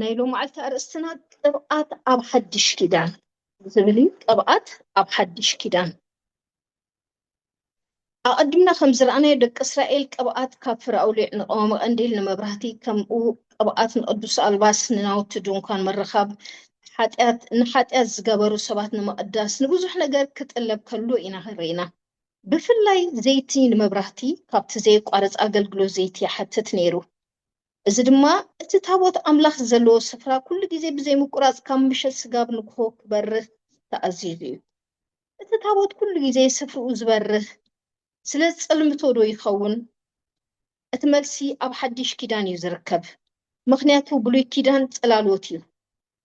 ናይ ሎማዓልቲ ኣርእስትና ቅብኣት ኣብ ሓድሽ ኪዳን ዝብል እዩ ቅብኣት ኣብ ሓድሽ ኪዳን ኣቐድምና ከም ዝረኣናዮ ደቂ እስራኤል ቅብኣት ካብ ፍረ ኣውሊዕ ንቀዋሚ ቀንዲል ንመብራህቲ ከምኡ ቅብኣት ንቅዱስ ኣልባስ ንናውቲ ድንኳን ምርኻብ ንሓጢኣት ዝገበሩ ሰባት ንምቕዳስ ንብዙሕ ነገር ክጥለብ ከሎ ኢና ርኢና ብፍላይ ዘይቲ ንመብራህቲ ካብቲ ዘየቋርጽ ኣገልግሎት ዘይቲ ይሓትት ነይሩ፣ እዚ ድማ እቲ ታቦት ኣምላኽ ዘለዎ ስፍራ ኵሉ ግዜ ብዘይ ምቍራጽ ካብ ምሸት ስጋብ ንግሆ ክበርህ ተኣዚዙ ኢዩ። እቲ ታቦት ኵሉ ግዜ ስፍርኡ ዝበርህ ስለ ዝጸልምቶዶ ይኸውን? እቲ መልሲ ኣብ ሓድሽ ኪዳን ኢዩ ዝርከብ፣ ምኽንያቱ ብሉይ ኪዳን ጽላሎት ኢዩ።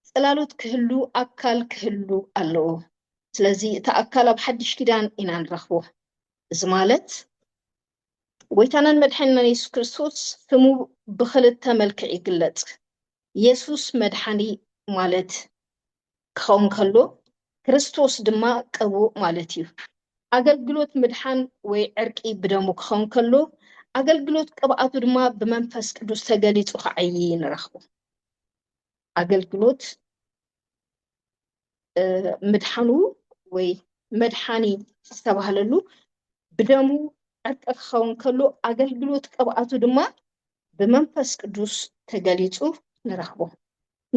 ጽላሎት ክህሉ ኣካል ክህሉ ኣለዎ ስለዚ እቲ ኣካል ኣብ ሓድሽ ኪዳን ኢና ንረኽቦ እዚ ማለት ጎይታናን መድሓኒናን የሱስ ክርስቶስ ስሙ ብክልተ መልክዕ ይግለጽ የሱስ መድሓኒ ማለት ክኸውን ከሎ ክርስቶስ ድማ ቅቡእ ማለት እዩ ኣገልግሎት ምድሓን ወይ ዕርቂ ብደሙ ክኸውን ከሎ ኣገልግሎት ቅብኣቱ ድማ ብመንፈስ ቅዱስ ተገሊጹ ክዓይ ንረኽቦ ኣገልግሎት ምድሓኑ ወይ መድሓኒ ዝተባህለሉ ብደሙ ዕርቂ ክኸውን ከሎ ኣገልግሎት ቅብኣቱ ድማ ብመንፈስ ቅዱስ ተገሊጹ ንረኽቦ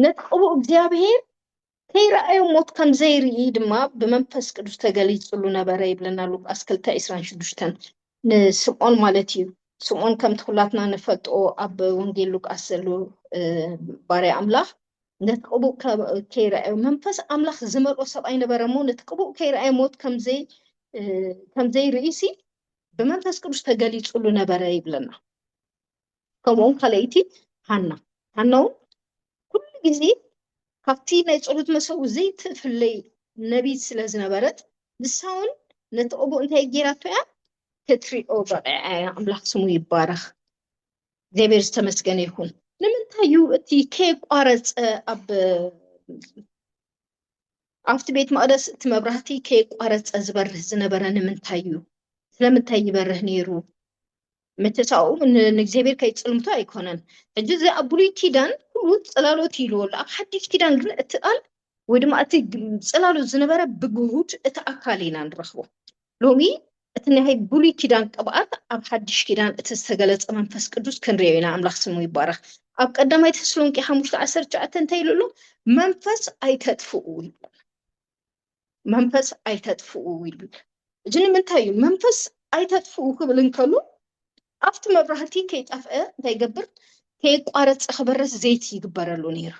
ነቲ ቅቡእ እግዚኣብሄር ከይረኣዮ ሞት ከም ዘይርኢ ድማ ብመንፈስ ቅዱስ ተገሊጹሉ ነበረ ይብለና ሉቃስ ክልተ ዕስራን ሽዱሽተን ንስምኦን ማለት እዩ። ስምኦን ከምቲ ኩላትና ንፈልጦ ኣብ ወንጌል ሉቃስ ዘሎ ባርያ ኣምላኽ ነቲ ቅቡእ ከይረኣዮ መንፈስ ኣምላኽ ዝመልኦ ሰብኣይ ነበረ እሞ ነቲ ቅቡእ ከይረኣዮ ሞት ከምዘይርእሲ ብመንፈስ ቅዱስ ተገሊጹሉ ነበረ ይብለና። ከምኡውን ካልኣይቲ ሃና ሃና እውን ኩሉ ግዜ ካብቲ ናይ ፀሎት መሰዊ ዘይትፍለይ ነቢት ስለ ዝነበረት ንሳ እውን ነቲ ኦቦ እንታይ ጌራቶ እያ ክትሪኦ በቂዓ እያ ኣምላኽ ስሙ ይባረኽ እግዚኣብሔር ዝተመስገነ ይኹን ንምንታይ እዩ እቲ ከየቋረፀ ኣብ ኣብቲ ቤት መቅደስ እቲ መብራህቲ ከየቋረፀ ዝበርህ ዝነበረ ንምንታይ እዩ ስለምንታይ ይበርህ ነይሩ ምትሳኡ ንእግዚኣብሔር ከይጽልምቶ ኣይኮነን ሕጂ እዚ ኣብ ብሉይ ኪዳን ኩሉ ጽላሎት ኢልዎ ኣሎ ኣብ ሓድሽ ኪዳን ግን እቲ ቃል ወይ ድማ እቲ ጽላሎት ዝነበረ ብግሁድ እቲ ኣካል ኢና ንረኽቦ ሎሚ እቲ ናይ ብሉይ ኪዳን ቅብኣት ኣብ ሓድሽ ኪዳን እቲ ዝተገለጸ መንፈስ ቅዱስ ክንሪኦ ኢና ኣምላኽ ስሙ ይባረኽ ኣብ ቀዳማይ ተስሎንቄ ሓሙሽተ ዓሰርተ ትሽዓተ እንታይ ኢሉ ኣሎ መንፈስ ኣይተጥፍኡ መንፈስ ኣይተጥፍኡ ይብል። እዚ ንምንታይ እዩ መንፈስ ኣይተጥፍኡ ክብል እንከሎ ኣብቲ መብራህቲ ከይጠፍአ እንታይ ይገብር ከየቋረፅ ክበረስ ዘይቲ ይግበረሉ ነይሩ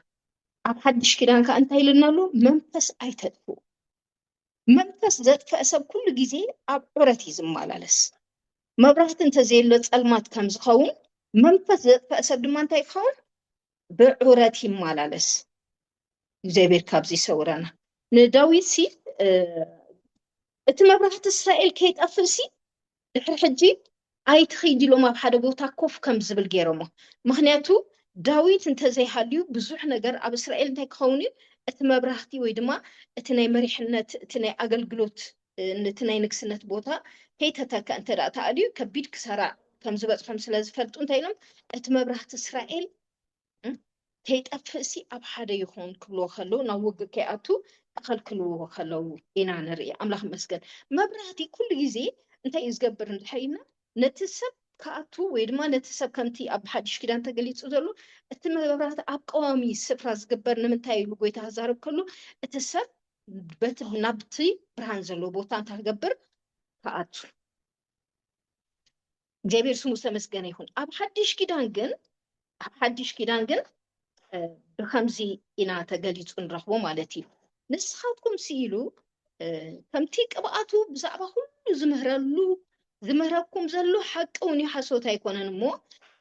ኣብ ሓድሽ ኪዳን ከዓ እንታይ ኢልና ኣሎ መንፈስ ኣይተጥፉ መንፈስ ዘጥፈአ ሰብ ኩሉ ግዜ ኣብ ዑረት እዩ ዝመላለስ መብራህቲ እንተዘየሎ ፀልማት ከም ዝኸውን መንፈስ ዘጥፈአ ሰብ ድማ እንታይ ክኸውን ብዑረት ይመላለስ እግዚኣብሔር ካብዚ ይሰውረና ንዳዊት ሲ እቲ መብራህቲ እስራኤል ከይጠፍእ ሲ ድሕሪ ሕጂ ኣይትኸይድ ኢሎም ኣብ ሓደ ቦታ ኮፍ ከም ዝብል ገይሮሞ ምክንያቱ ዳዊት እንተዘይሃልዩ ብዙሕ ነገር ኣብ እስራኤል እንታይ ክኸውን እዩ እቲ መብራህቲ ወይ ድማ እቲ ናይ መሪሕነት እቲ ናይ ኣገልግሎት ነቲ ናይ ንግስነት ቦታ ከይተተከ እንተ ተኣልዩ ከቢድ ክሳራ ከም ዝበፅሖም ስለ ዝፈልጡ እንታይ ኢሎም እቲ መብራህቲ እስራኤል ከይጠፍእሲ ኣብ ሓደ ይኹን ክብልዎ ከለዉ ናብ ውግእ ከይኣቱ ክኸልክልዎ ከለዉ ኢና ንርኢ ኣምላኽ መስገን መብራህቲ ኩሉ ግዜ እንታይ እዩ ዝገብር እንድሕር ኢልና ነቲ ሰብ ክኣቱ ወይ ድማ ነቲ ሰብ ከምቲ ኣብ ሓድሽ ኪዳን ተገሊጹ ዘሎ እቲ መብራት ኣብ ቀዋሚ ስፍራ ዝግበር ንምንታይ ኢሉ ጎይታ ክዛረብ ከሎ እቲ ሰብ ናብቲ ብርሃን ዘለዎ ቦታ እንታይ ክገብር ክኣቱ እግዚኣብሔር ስሙ ዝተመስገነ ይኹን ኣብ ሓድሽ ኪዳን ግን ኣብ ሓድሽ ኪዳን ግን ብከምዚ ኢና ተገሊፁ ንረኽቦ ማለት እዩ ንስኻትኩም ስኢሉ ከምቲ ቅብኣቱ ብዛዕባ ኩሉ ዝምህረሉ ዝምህረኩም ዘሎ ሓቂ እውን እዩ ሓሶት ኣይኮነን እሞ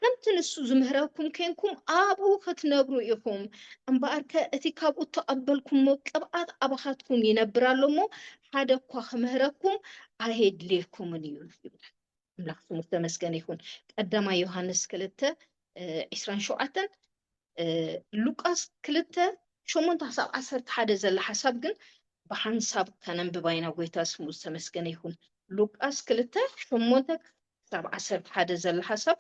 ከምቲ ንሱ ዝምህረኩም ኮንኩም ኣብኡ ክትነብሩ ኢኹም እምበኣርከ እቲ ካብኡ እተቐበልኩሞ ቅብኣት ኣባኻትኩም ይነብር ኣሎ እሞ ሓደ እኳ ክምህረኩም ኣየድልየኩምን እዩ ይብላል ኣምላኽ ስሙ ተመስገን ይኹን ቀዳማ ዮሃንስ ክልተ ዒስራን ሸውዓተን ሉቃስ ክልተ ሸሞንተ ክሳብ ዓሰርተ ሓደ ዘላ ሓሳብ ግን ብሓንሳብ ከነንብባ ኢና ጎይታ ስሙ ዝተመስገነ ይኹን ሉቃስ ክልተ ሸሞንተ ክሳብ ዓሰርተ ሓደ ዘላ ሓሳብ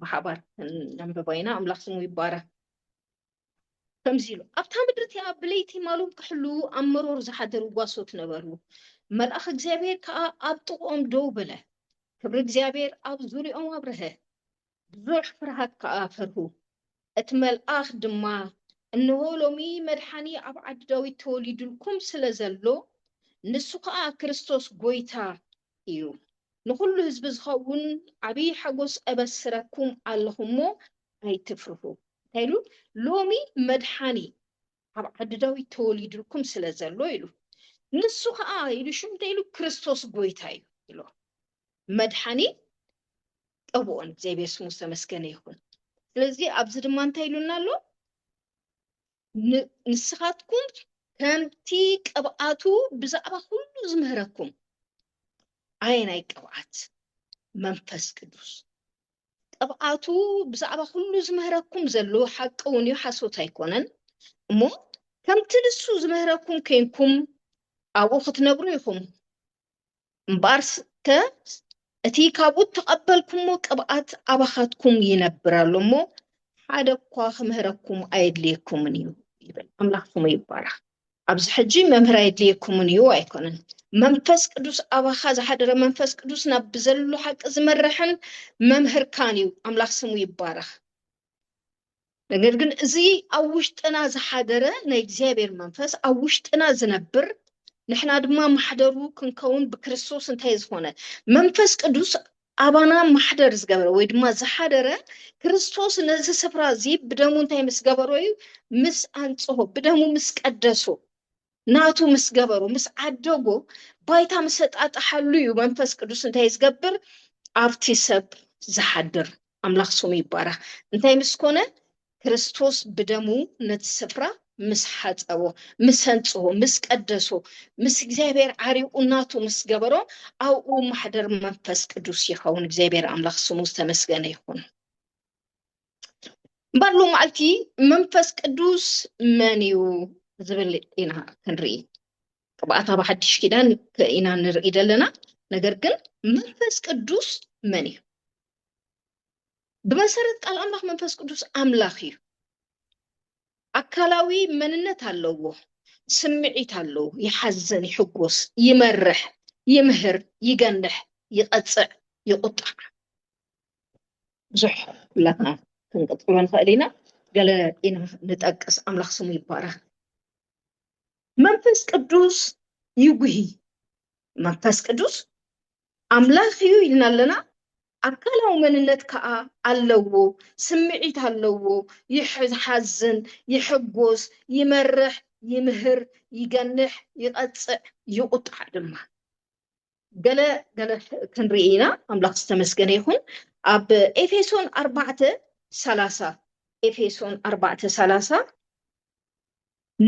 ብሓባር ከነንብባ ኢና ኣምላኽ ስሙ ይባረክ ከምዚ ኢሉ ኣብታ ምድሪ እቲኣ ብለይቲ ማሎም ክሕሉ ኣብ መሮር ዝሓደሩ ጓሶት ነበሩ መልኣኽ እግዚኣብሔር ከዓ ኣብ ጥቕኦም ደው በለ ክብሪ እግዚኣብሔር ኣብ ዙሪኦም ኣብረሀ ብዙሕ ፍርሃት ከኣ ፈርሁ። እቲ መልኣኽ ድማ፣ እንሆ፣ ሎሚ መድሓኒ ኣብ ዓዲ ዳዊት ተወሊዱልኩም ስለ ዘሎ፣ ንሱ ኸኣ ክርስቶስ ጐይታ እዩ። ንዅሉ ህዝቢ ዚኸውን ዓብዪ ሓጐስ እበስረኩም ኣለኹ እሞ፣ ኣይትፍርሁ። እንታይ ኢሉ? ሎሚ መድሓኒ ኣብ ዓዲ ዳዊት ተወሊዱልኩም ስለ ዘሎ ኢሉ። ንሱ ኸኣ ኢሉ ሽዑ እንታይ ኢሉ? ክርስቶስ ጐይታ እዩ ኢሉ። መድሓኒ ጠብኦን እግዚኣብሔር ስሙ ዝተመስገነ ይኹን ስለዚ ኣብዚ ድማ እንታይ ኢሉና ኣሎ ንስኻትኩም ከምቲ ቅብኣቱ ብዛዕባ ኩሉ ዝምህረኩም ኣየናይ ቅብኣት መንፈስ ቅዱስ ቅብኣቱ ብዛዕባ ኩሉ ዝምህረኩም ዘሎ ሓቂ እውን እዩ ሓሶት ኣይኮነን እሞ ከምቲ ንሱ ዝምህረኩም ኮንኩም ኣብኡ ክትነብሩ ኢኹም እምበኣርከ እቲ ካብኡ እተቐበልኩሞ ቅብኣት ኣባኻትኩም ይነብር ኣሎ እሞ ሓደ እኳ ክምህረኩም ኣየድልየኩምን እዩ ይብል። ኣምላኽ ስሙ ይባረኽ። ኣብዚ ሕጂ መምህር ኣየድልየኩምን እዩ ኣይኮነን። መንፈስ ቅዱስ ኣባኻ ዝሓደረ መንፈስ ቅዱስ ናብ ብዘሉ ሓቂ ዝመርሕን መምህርካን እዩ። ኣምላኽ ስሙ ይባረኽ። ነገር ግን እዚ ኣብ ውሽጥና ዝሓደረ ናይ እግዚኣብሔር መንፈስ ኣብ ውሽጥና ዝነብር ንሕና ድማ ማሕደሩ ክንከውን ብክርስቶስ እንታይ ዝኾነ መንፈስ ቅዱስ ኣባና ማሕደር ዝገበረ ወይ ድማ ዝሓደረ ክርስቶስ ነዚ ስፍራ እዚ ብደሙ እንታይ ምስ ገበሮ እዩ ምስ ኣንጽሆ ብደሙ ምስ ቀደሶ ናቱ ምስ ገበሩ ምስ ዓደጎ ባይታ ምስ ኣጣጣሓሉ እዩ መንፈስ ቅዱስ እንታይ ዝገብር ኣብቲ ሰብ ዝሓድር ኣምላኽ ስሙ ይባረኽ እንታይ ምስ ኮነ ክርስቶስ ብደሙ ነቲ ስፍራ ምስ ሓፀቦ ምስ ኣንፅሆ ምስ ቀደሶ ምስ እግዚኣብሔር ዓሪቁ ናቱ ምስ ገበሮ ኣብኡ ማሕደር መንፈስ ቅዱስ ይኸውን እግዚኣብሔር ኣምላኽ ስሙ ዝተመስገነ ይኹን እምበር ሎማዓልቲ መንፈስ ቅዱስ መን እዩ ዝብል ኢና ክንርኢ ቅብኣት ኣብ ሓድሽ ኪዳን ኢና ንርኢ ዘለና ነገር ግን መንፈስ ቅዱስ መን እዩ ብመሰረት ቃል ኣምላኽ መንፈስ ቅዱስ ኣምላኽ እዩ ኣካላዊ መንነት ኣለዎ ስምዒት ኣለዎ ይሓዘን ይሕጎስ ይመርሕ ይምህር ይገንሕ ይቐፅዕ ይቁጣዕ ብዙሕ ብላትና ክንቅፅሎ ንኽእል ኢና ገለ ኢና ንጠቅስ ኣምላኽ ስሙ ይባረኽ መንፈስ ቅዱስ ይጉሂ መንፈስ ቅዱስ ኣምላኽ እዩ ኢልና ኣለና ኣካላዊ መንነት ከዓ ኣለዎ ስምዒት ኣለዎ ይሓዝን ይሕጎስ ይመርሕ ይምህር ይገንሕ ይቐፅዕ ይቁጣዕ ድማ ገለ ገለ ክንርኢ ኢና ኣምላኽ ዝተመስገነ ይኹን ኣብ ኤፌሶን ኣርባዕተ ሰላሳ ኤፌሶን ኣርባዕተ ሰላሳ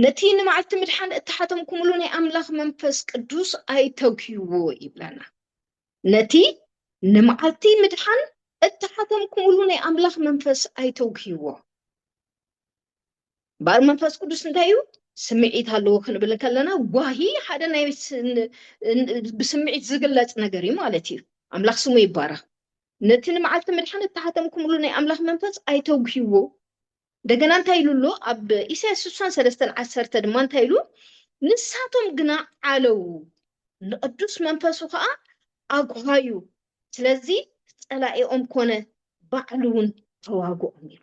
ነቲ ንመዓልቲ ምድሓን እተሓተምኩምሉ ናይ ኣምላኽ መንፈስ ቅዱስ ኣይተጉህዎ ይብለና ነቲ ንመዓልቲ ምድሓን እተሓተምኩምሉ ናይ ኣምላኽ መንፈስ ኣይተጉህዎ እምበኣር መንፈስ ቅዱስ እንታይ እዩ ስምዒት ኣለዎ ክንብል ከለና ጓሂ ሓደ ናይ ብስምዒት ዝግለፅ ነገር እዩ ማለት እዩ ኣምላኽ ስሙ ይባረኽ ነቲ ንመዓልቲ ምድሓን እተሓተምኩምሉ ናይ ኣምላኽ መንፈስ ኣይተጉሂዎ እንደገና እንታይ ኢሉ ኣሎ ኣብ ኢሳያስ ስሳን ሰለስተን ዓሰርተ ድማ እንታይ ኢሉ ንሳቶም ግና ዓለው ንቅዱስ መንፈሱ ከዓ ኣጉሃዩ ስለዚ ፀላኢኦም ኮነ ባዕሉ እውን ተዋግኦም ኢሉ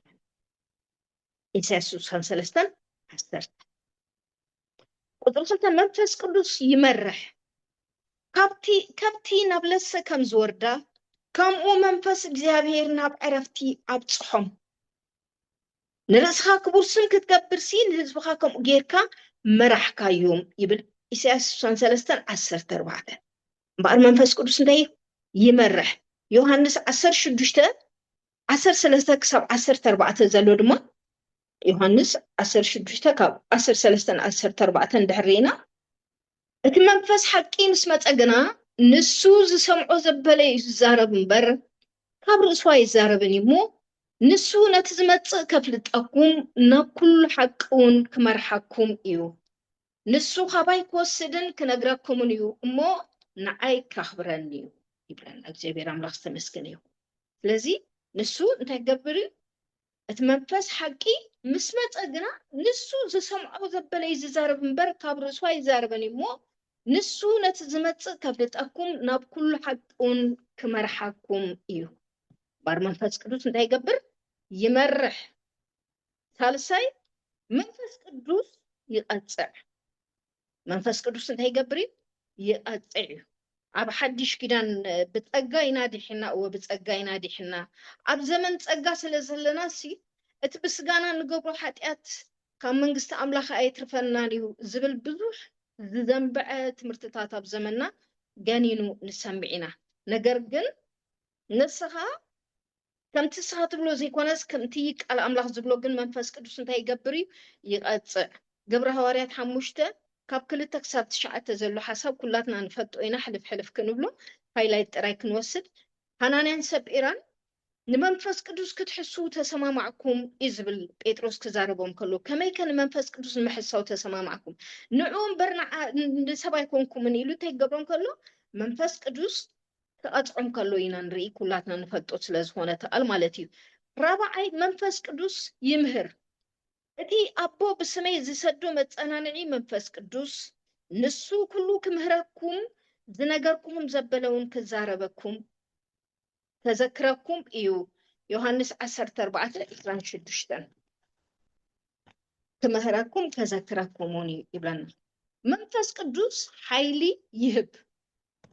ኢሳያስ ስሳን ሰለስተን ዓሰርተ ቁፅሪ ክልተ መንፈስ ቅዱስ ይመርሕ ካብቲ ከብቲ ናብ ለሰ ከም ዝወርዳ ከምኡ መንፈስ እግዚኣብሔር ናብ ዕረፍቲ ኣብፅሖም ንርእስኻ ክቡር ስም ክትገብር ሲ ንህዝብኻ ከምኡ ጌርካ መራሕካዮም ይብል ኢሳያስ ስሳን ሰለስተን ዓሰርተ ኣርባዕተ እምበኣር መንፈስ ቅዱስ እንታይ ይመርሕ ዮሃንስ ዓሰርተ ሽዱሽተ ዓሰርተ ሰለስተ ክሳብ ዓሰርተ ኣርባዕተ ዘሎ ድማ ዮሃንስ ዓሰርተ ሽዱሽተ ካብ ዓሰርተ ሰለስተ ንዓሰርተ ኣርባዕተ እንድሕር ርኢና እቲ መንፈስ ሓቂ ምስ መፀ ግና ንሱ ዝሰምዖ ዘበለ እዩ ዝዛረብ እምበር ካብ ርእሱ ኣይዛረብን እዩ እሞ ንሱ ነቲ ዝመፅእ ከፍልጠኩም ናብ ኩሉ ሓቂ እውን ክመርሓኩም እዩ ንሱ ካባይ ክወስድን ክነግረኩምን እዩ እሞ ንዓይ ካኽብረኒ እዩ ይብለና እግዚኣብሔር ኣምላኽ ዝተመስገነ ይኹን ስለዚ ንሱ እንታይ ገብር እዩ እቲ መንፈስ ሓቂ ምስ መፀ ግና ንሱ ዝሰምዖ ዘበለ እዩ ዝዛረብ እምበር ካብ ርእሱ ኣይዛረበን እዩ እሞ ንሱ ነቲ ዝመፅእ ከፍልጠኩም ናብ ኩሉ ሓቂውን ክመርሓኩም እዩ ባር መንፈስ ቅዱስ እንታይ ይገብር ይመርሕ ሳልሳይ መንፈስ ቅዱስ ይቐጽዕ። መንፈስ ቅዱስ እንታይ ይገብር እዩ? ይቐጽዕ እዩ። ኣብ ሓድሽ ኪዳን ብጸጋ ኢና ዲሕና፣ እወ ብጸጋ ኢና ዲሕና። ኣብ ዘመን ጸጋ ስለ ዘለና ሲ እቲ ብስጋና ንገብሮ ሓጢኣት ካብ መንግስቲ ኣምላኽ ኣየትርፈናን እዩ ዝብል ብዙሕ ዝዘንብዐ ትምህርትታት ኣብ ዘመንና ገኒኑ ንሰምዕ ኢና። ነገር ግን ንስኻ ከምቲ ንስኻ ትብሎ ዘይኮነስ ከምቲ ቃል ኣምላኽ ዝብሎ ግን መንፈስ ቅዱስ እንታይ ይገብር እዩ ይቐጽዕ ግብረ ሃዋርያት ሓሙሽተ ካብ ክልተ ክሳብ ትሽዓተ ዘሎ ሓሳብ ኩላትና ንፈልጦ ኢና ሕልፍ ሕልፍ ክንብሎ ሃይላይት ጥራይ ክንወስድ ሃናንያን ሰጲራን ንመንፈስ ቅዱስ ክትሕስው ተሰማማዕኩም እዩ ዝብል ጴጥሮስ ክዛረቦም ከሎ ከመይ ከ ንመንፈስ ቅዱስ ንምሕሳው ተሰማማዕኩም ንዑ እምበር ንሰብ ኣይኮንኩምን ኢሉ እንታይ ክገብሮም ከሎ መንፈስ ቅዱስ ክቐጽዖም ከሎ ኢና ንርኢ ኩላትና ንፈልጦ ስለ ዝኾነ ተኣል ማለት እዩ ራብዓይ መንፈስ ቅዱስ ይምህር እቲ ኣቦ ብስመይ ዝሰዶ መጸናንዒ መንፈስ ቅዱስ ንሱ ኩሉ ክምህረኩም ዝነገርኩኹም ዘበለውን ክዛረበኩም ከዘክረኩም እዩ ዮሐንስ ዓሰርተ ኣርባዕተ ዕስራን ሽዱሽተን ክምህረኩም ከዘክረኩሙን እዩ ይብለና መንፈስ ቅዱስ ሓይሊ ይህብ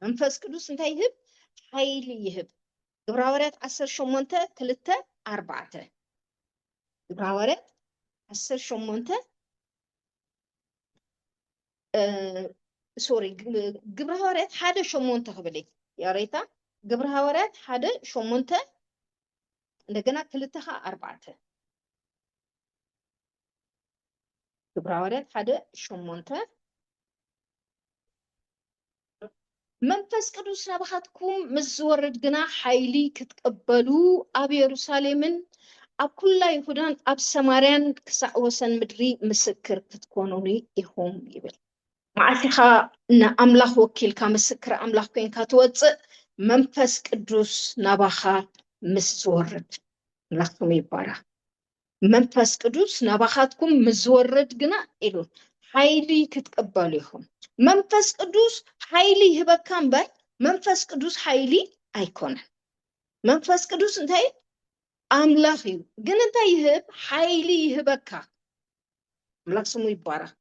መንፈስ ቅዱስ እንታይ ይህብ? ሓይሊ ይህብ። ግብረ ሃዋርያት ዓሰርተ ሸሞንተ ክልተ ኣርባዕተ ግብረ ሃዋርያት ዓሰርተ ሸሞንተ ሶሪ ግብረ ሃዋርያት ሓደ ሸሞንተ ክብል እዩ ያሬታ ግብረ ሃዋርያት ሓደ ሸሞንተ እንደገና ክልተ ከዓ ኣርባዕተ ግብረ ሃዋርያት ሓደ ሸሞንተ መንፈስ ቅዱስ ናባኻትኩም ምስ ዝወርድ ግና ሓይሊ ክትቅበሉ ኣብ የሩሳሌምን ኣብ ኩላ ይሁዳን ኣብ ሰማርያን ክሳዕ ወሰን ምድሪ ምስክር ክትኮኑኒ ኢኹም ይብል። መዓልቲ ኢኻ ንኣምላኽ ወኪልካ ምስክር ኣምላኽ ኮንካ ትወፅእ መንፈስ ቅዱስ ናባኻ ምስ ዝወርድ። ኣምላኽ ስሙ ይባረኽ። መንፈስ ቅዱስ ናባኻትኩም ምስ ዝወርድ ግና ኢሉ ሓይሊ ክትቅበሉ ኢኹም። መንፈስ ቅዱስ ሓይሊ ይህበካ እምበር መንፈስ ቅዱስ ሓይሊ ኣይኮነን። መንፈስ ቅዱስ እንታይ እዩ? ኣምላኽ እዩ። ግን እንታይ ይህብ? ሓይሊ ይህበካ። ኣምላኽ ስሙ ይባረኽ።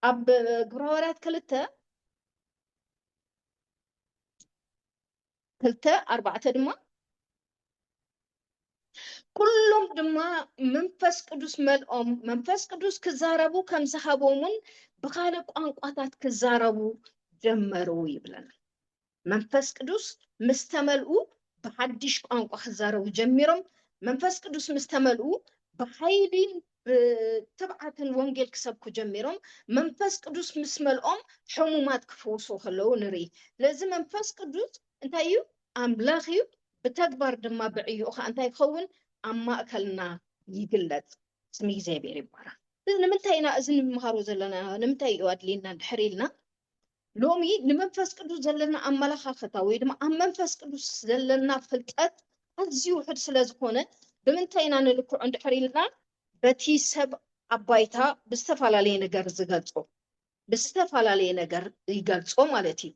ኣብ ግብረ ሃዋርያት ክልተ ክልተ ኣርባዕተ ድማ ኩሎም ድማ መንፈስ ቅዱስ መልኦም መንፈስ ቅዱስ ክዛረቡ ከም ዝሃቦምን ብካልእ ቋንቋታት ክዛረቡ ጀመሩ ይብለና። መንፈስ ቅዱስ ምስ ተመልኡ ብሓድሽ ቋንቋ ክዛረቡ ጀሚሮም። መንፈስ ቅዱስ ምስ ተመልኡ ብሓይሊን ብትብዓት ንወንጌል ክሰብኩ ጀሚሮም መንፈስ ቅዱስ ምስ መልኦም ሕሙማት ክፍውሱ ከለዉ ንርኢ። ስለዚ መንፈስ ቅዱስ እንታይ እዩ? ኣምላኽ እዩ። ብተግባር ድማ ብዕዮኡ ከዓ እንታይ ይኸውን? ኣብ ማእከልና ይግለጽ። ስም እግዚኣብሔር ይባረኽ። ስለዚ ንምንታይ ኢና እዚ ንምሃሮ ዘለና ንምንታይ እዩ ኣድልየና እንድሕር ኢልና ሎሚ ንመንፈስ ቅዱስ ዘለና ኣመለኻኽታ ወይ ድማ ኣብ መንፈስ ቅዱስ ዘለና ፍልጠት ኣዝዩ ውሑድ ስለ ዝኾነ ብምንታይ ኢና ንልክዖ እንድሕር ኢልና በቲ ሰብ ኣብ ባይታ ብዝተፈላለየ ነገር ዝገልጾ ብዝተፈላለየ ነገር ይገልጾ ማለት እዩ።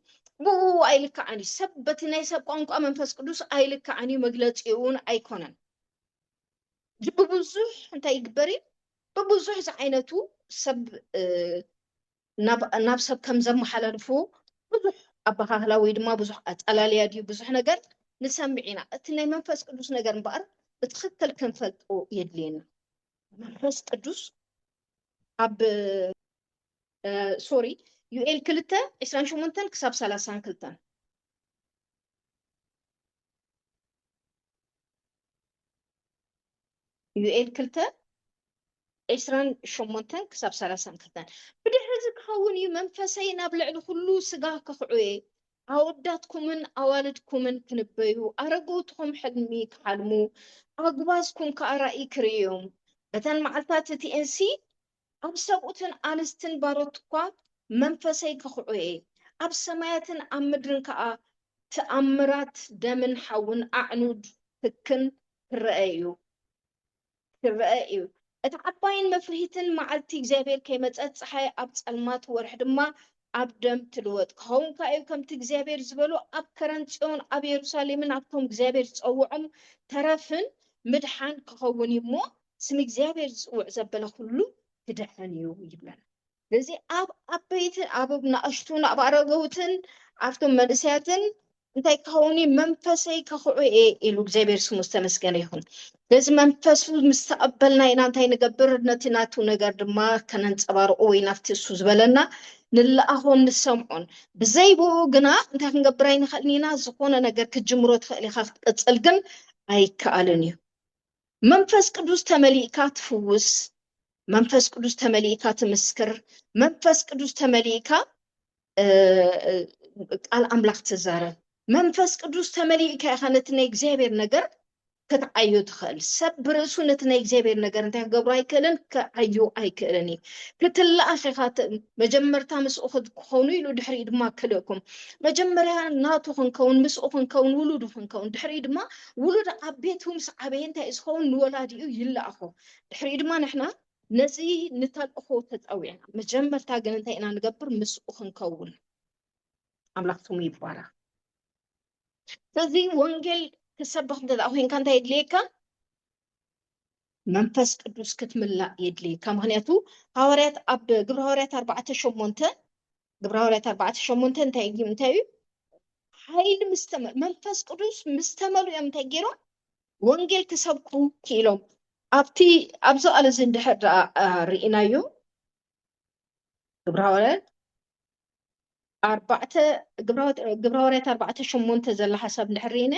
ብኡ ኣይልክዓን እዩ ሰብ በቲ ናይ ሰብ ቋንቋ መንፈስ ቅዱስ ኣይልክዓን እዩ መግለፂኡን ኣይኮነን ብብዙሕ እንታይ ይግበር እዩ ብብዙሕ ዝዓይነቱ ሰብ ናብ ሰብ ከም ዘመሓላልፉ ብዙሕ ኣበሃህላ ወይ ድማ ብዙሕ ኣጠላልያ ድዩ ብዙሕ ነገር ንሰምዕ ኢና። እቲ ናይ መንፈስ ቅዱስ ነገር እምበኣር ብትኽክል ክንፈልጦ የድልየና። መንፈስ ቅዱስ ኣብ ሶሪ ዩኤል ክልተ ዕስራን ሸሞንተን ክሳብ ሰላሳን ክልተን ዩኤል ክልተ ዕስራን ሸሞንተን ክሳብ ሰላሳን ክልተን ብድሕሪ እዚ ክኸውን እዩ መንፈሰይ ናብ ልዕሊ ዅሉ ስጋ ከኽዑየ፣ ኣወዳትኩምን ኣዋልድኩምን ክንበዩ፣ ኣረገውትኹም ሕልሚ ክሓልሙ፣ ኣጕባዝኩም ከኣ ራእይ ክርእዩዮም፣ በተን መዓልትታት እቲኤንሲ ኣብ ሰብኡትን ኣንስትን ባሮትኳ መንፈሰይ ከኹዕኤ፣ ኣብ ሰማያትን ኣብ ምድርን ከኣ ትኣምራት ደምን ሓውን ኣዕኑድ ህክን ክረኣ እዩ። ክረኣ እዩ። እታ ዓባይን መፍርሂትን መዓልቲ እግዚኣብሔር ከይመጸት ጸሓይ ኣብ ጸልማት ወርሒ ድማ ኣብ ደም ትልወጥ ክኸውን ከኣ እዩ። ከምቲ እግዚኣብሔር ዝበሎ ኣብ ከረን ጽዮን ኣብ የሩሳሌምን ኣብቶም እግዚኣብሔር ዝጸውዖም ተረፍን ምድሓን ክኸውን እዩ እሞ ስም እግዚኣብሔር ዝጽውዕ ዘበለ ኩሉ ክድሕን እዩ ይብለና። ስለዚ ኣብ ዓበይትን ኣብ ናእሽቱን ኣብ ኣረገውትን ኣብቶም መንእሰያትን እንታይ ክኸውን እዩ መንፈሰይ ከኽዑ እየ ኢሉ እግዚኣብሔር ስሙ ዝተመስገነ ይኹን። ስለዚ መንፈሱ ምስ ተቐበልና ኢና እንታይ ንገብር ነቲ ናቱ ነገር ድማ ከነንፀባርቑ ወይ ናብቲ እሱ ዝበለና ንለኣኾን ንሰምዖን ብዘይብኡ ግና እንታይ ክንገብር ኣይንኽእልን ኢና ዝኾነ ነገር ክትጅምሮ ትኽእል ኢኻ ክትቅፅል ግን ኣይከኣልን እዩ። መንፈስ ቅዱስ ተመሊእካ ትፍውስ፣ መንፈስ ቅዱስ ተመሊእካ ትምስክር፣ መንፈስ ቅዱስ ተመሊእካ ቃል ኣምላኽ ትዛረብ፣ መንፈስ ቅዱስ ተመሊእካ ኢኻ ነቲ ናይ እግዚኣብሔር ነገር ክትዓዩ ትኽእል ሰብ ብርእሱ ነቲ ናይ እግዚኣብሔር ነገር እንታይ ክገብሩ ኣይክእልን ክዓዩ ኣይክእልን እዩ ክትለኣኽ ኢኻ መጀመርታ ምስኡ ክትኮኑ ኢሉ ድሕሪኡ ድማ ክልእኩም መጀመርያ ናቱ ክንከውን ምስኡ ክንከውን ውሉዱ ክንከውን ድሕሪኡ ድማ ውሉድ ኣብ ቤቱ ምስ ዓበየ እንታይ እዩ ዝኸውን? ንወላዲኡ ይለኣኾ። ድሕሪኡ ድማ ንሕና ነዚ ንተልእኾ ተጸዊዕና። መጀመርታ ግን እንታይ ኢና ንገብር? ምስኡ ክንከውን። ኣምላኽ ስሙ ይባረኽ። ስለዚ ወንጌል ክትሰብኽ እንተ ኮንካ እንታይ የድልየካ? መንፈስ ቅዱስ ክትምላእ የድልየካ። ምክንያቱ ሃዋርያት ኣብ ግብረ ሃዋርያት ኣርባዕተ ሸሞንተ ግብረ ሐዋርያት ኣርባዕተ ሸሞንተ እንታይ እዩ እንታይ እዩ ሓይሊ ምስ ተመ- መንፈስ ቅዱስ ምስ ተመልኡ እዮም እንታይ ገይሮም ወንጌል ክሰብኩ ክኢሎም ኣብቲ ኣብዚ ቃል እዚ እንድሕር ደኣ አ፣ ርኢናዮ ግብረ ሐዋርያት ኣርባዕተ ግብረ ሐዋርያት- ግብረ ሐዋርያት ኣርባዕተ ሸሞንተ ዘላ ሓሳብ እንድሕር ርኢና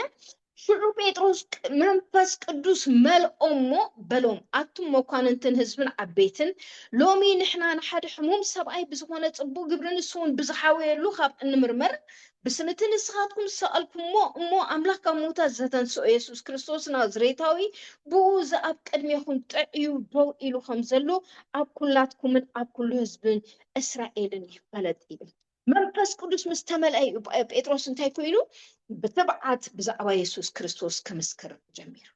ሽዑ ጴጥሮስ መንፈስ ቅዱስ መልኦ እሞ በሎም፣ ኣቱም መኳንንትን ህዝብን ዓበይትን፣ ሎሚ ንሕና ንሓደ ሕሙም ሰብኣይ ብዝኾነ ጽቡቕ ግብሪ ንሱውን ብዝሓወየሉ ኻብ እንምርመር፣ ብስም እቲ ንስኻትኩም ዝሰቐልኩምዎ እሞ ኣምላኽ ካብ ምዉታት ዘተንስኦ የሱስ ክርስቶስ ናዝሬታዊ ብእኡ እዚ ኣብ ቅድሜኹም ጥዕዩ ደው ኢሉ ኸም ዘሎ ኣብ ኵላትኩምን ኣብ ኵሉ ህዝብን እስራኤልን ይፈለጥ ይብል። መንፈስ ቅዱስ ምስ ተመልአ እዩ ጴጥሮስ እንታይ ኮይኑ ብትብዓት ብዛዕባ የሱስ ክርስቶስ ክምስክር ጀሚሩ።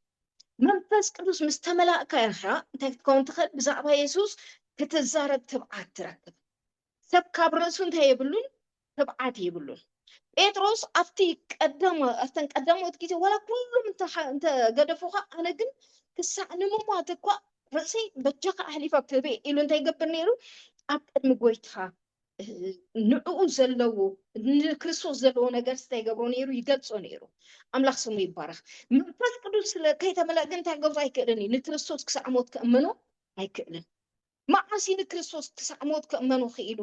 መንፈስ ቅዱስ ምስ ተመላእካ ኢኻ እንታይ ክትከውን ትኽእል? ብዛዕባ የሱስ ክትዛረብ ትብዓት ትረክብ። ሰብ ካብ ርእሱ እንታይ የብሉን ትብዓት የብሉን ጴጥሮስ ኣብቲ ቀዳማ ኣብተን ቀዳሞት ግዜ ዋላ ኩሉም እንተገደፉካ ኣነ ግን ክሳዕ ንምሟት እኳ ርእሰይ በጃካ ኣሕሊፈ ክህበ ኢሉ እንታይ ይገብር ነይሩ ኣብ ቅድሚ ጎይታ ንዕኡ ዘለዎ ንክርስቶስ ዘለዎ ነገር እንታይ ይገብሮ ነይሩ ይገልጾ ነይሩ ኣምላኽ ስሙ ይባረኽ መንፈስ ቅዱስ ስለ ከይተመልአ ግን እንታይ ገብሮ ኣይክእልን እዩ ንክርስቶስ ክሳዕ ሞት ክእመኖ ኣይክእልን መዓሲ ንክርስቶስ ክሳዕ ሞት ክእመኖ ክኢሉ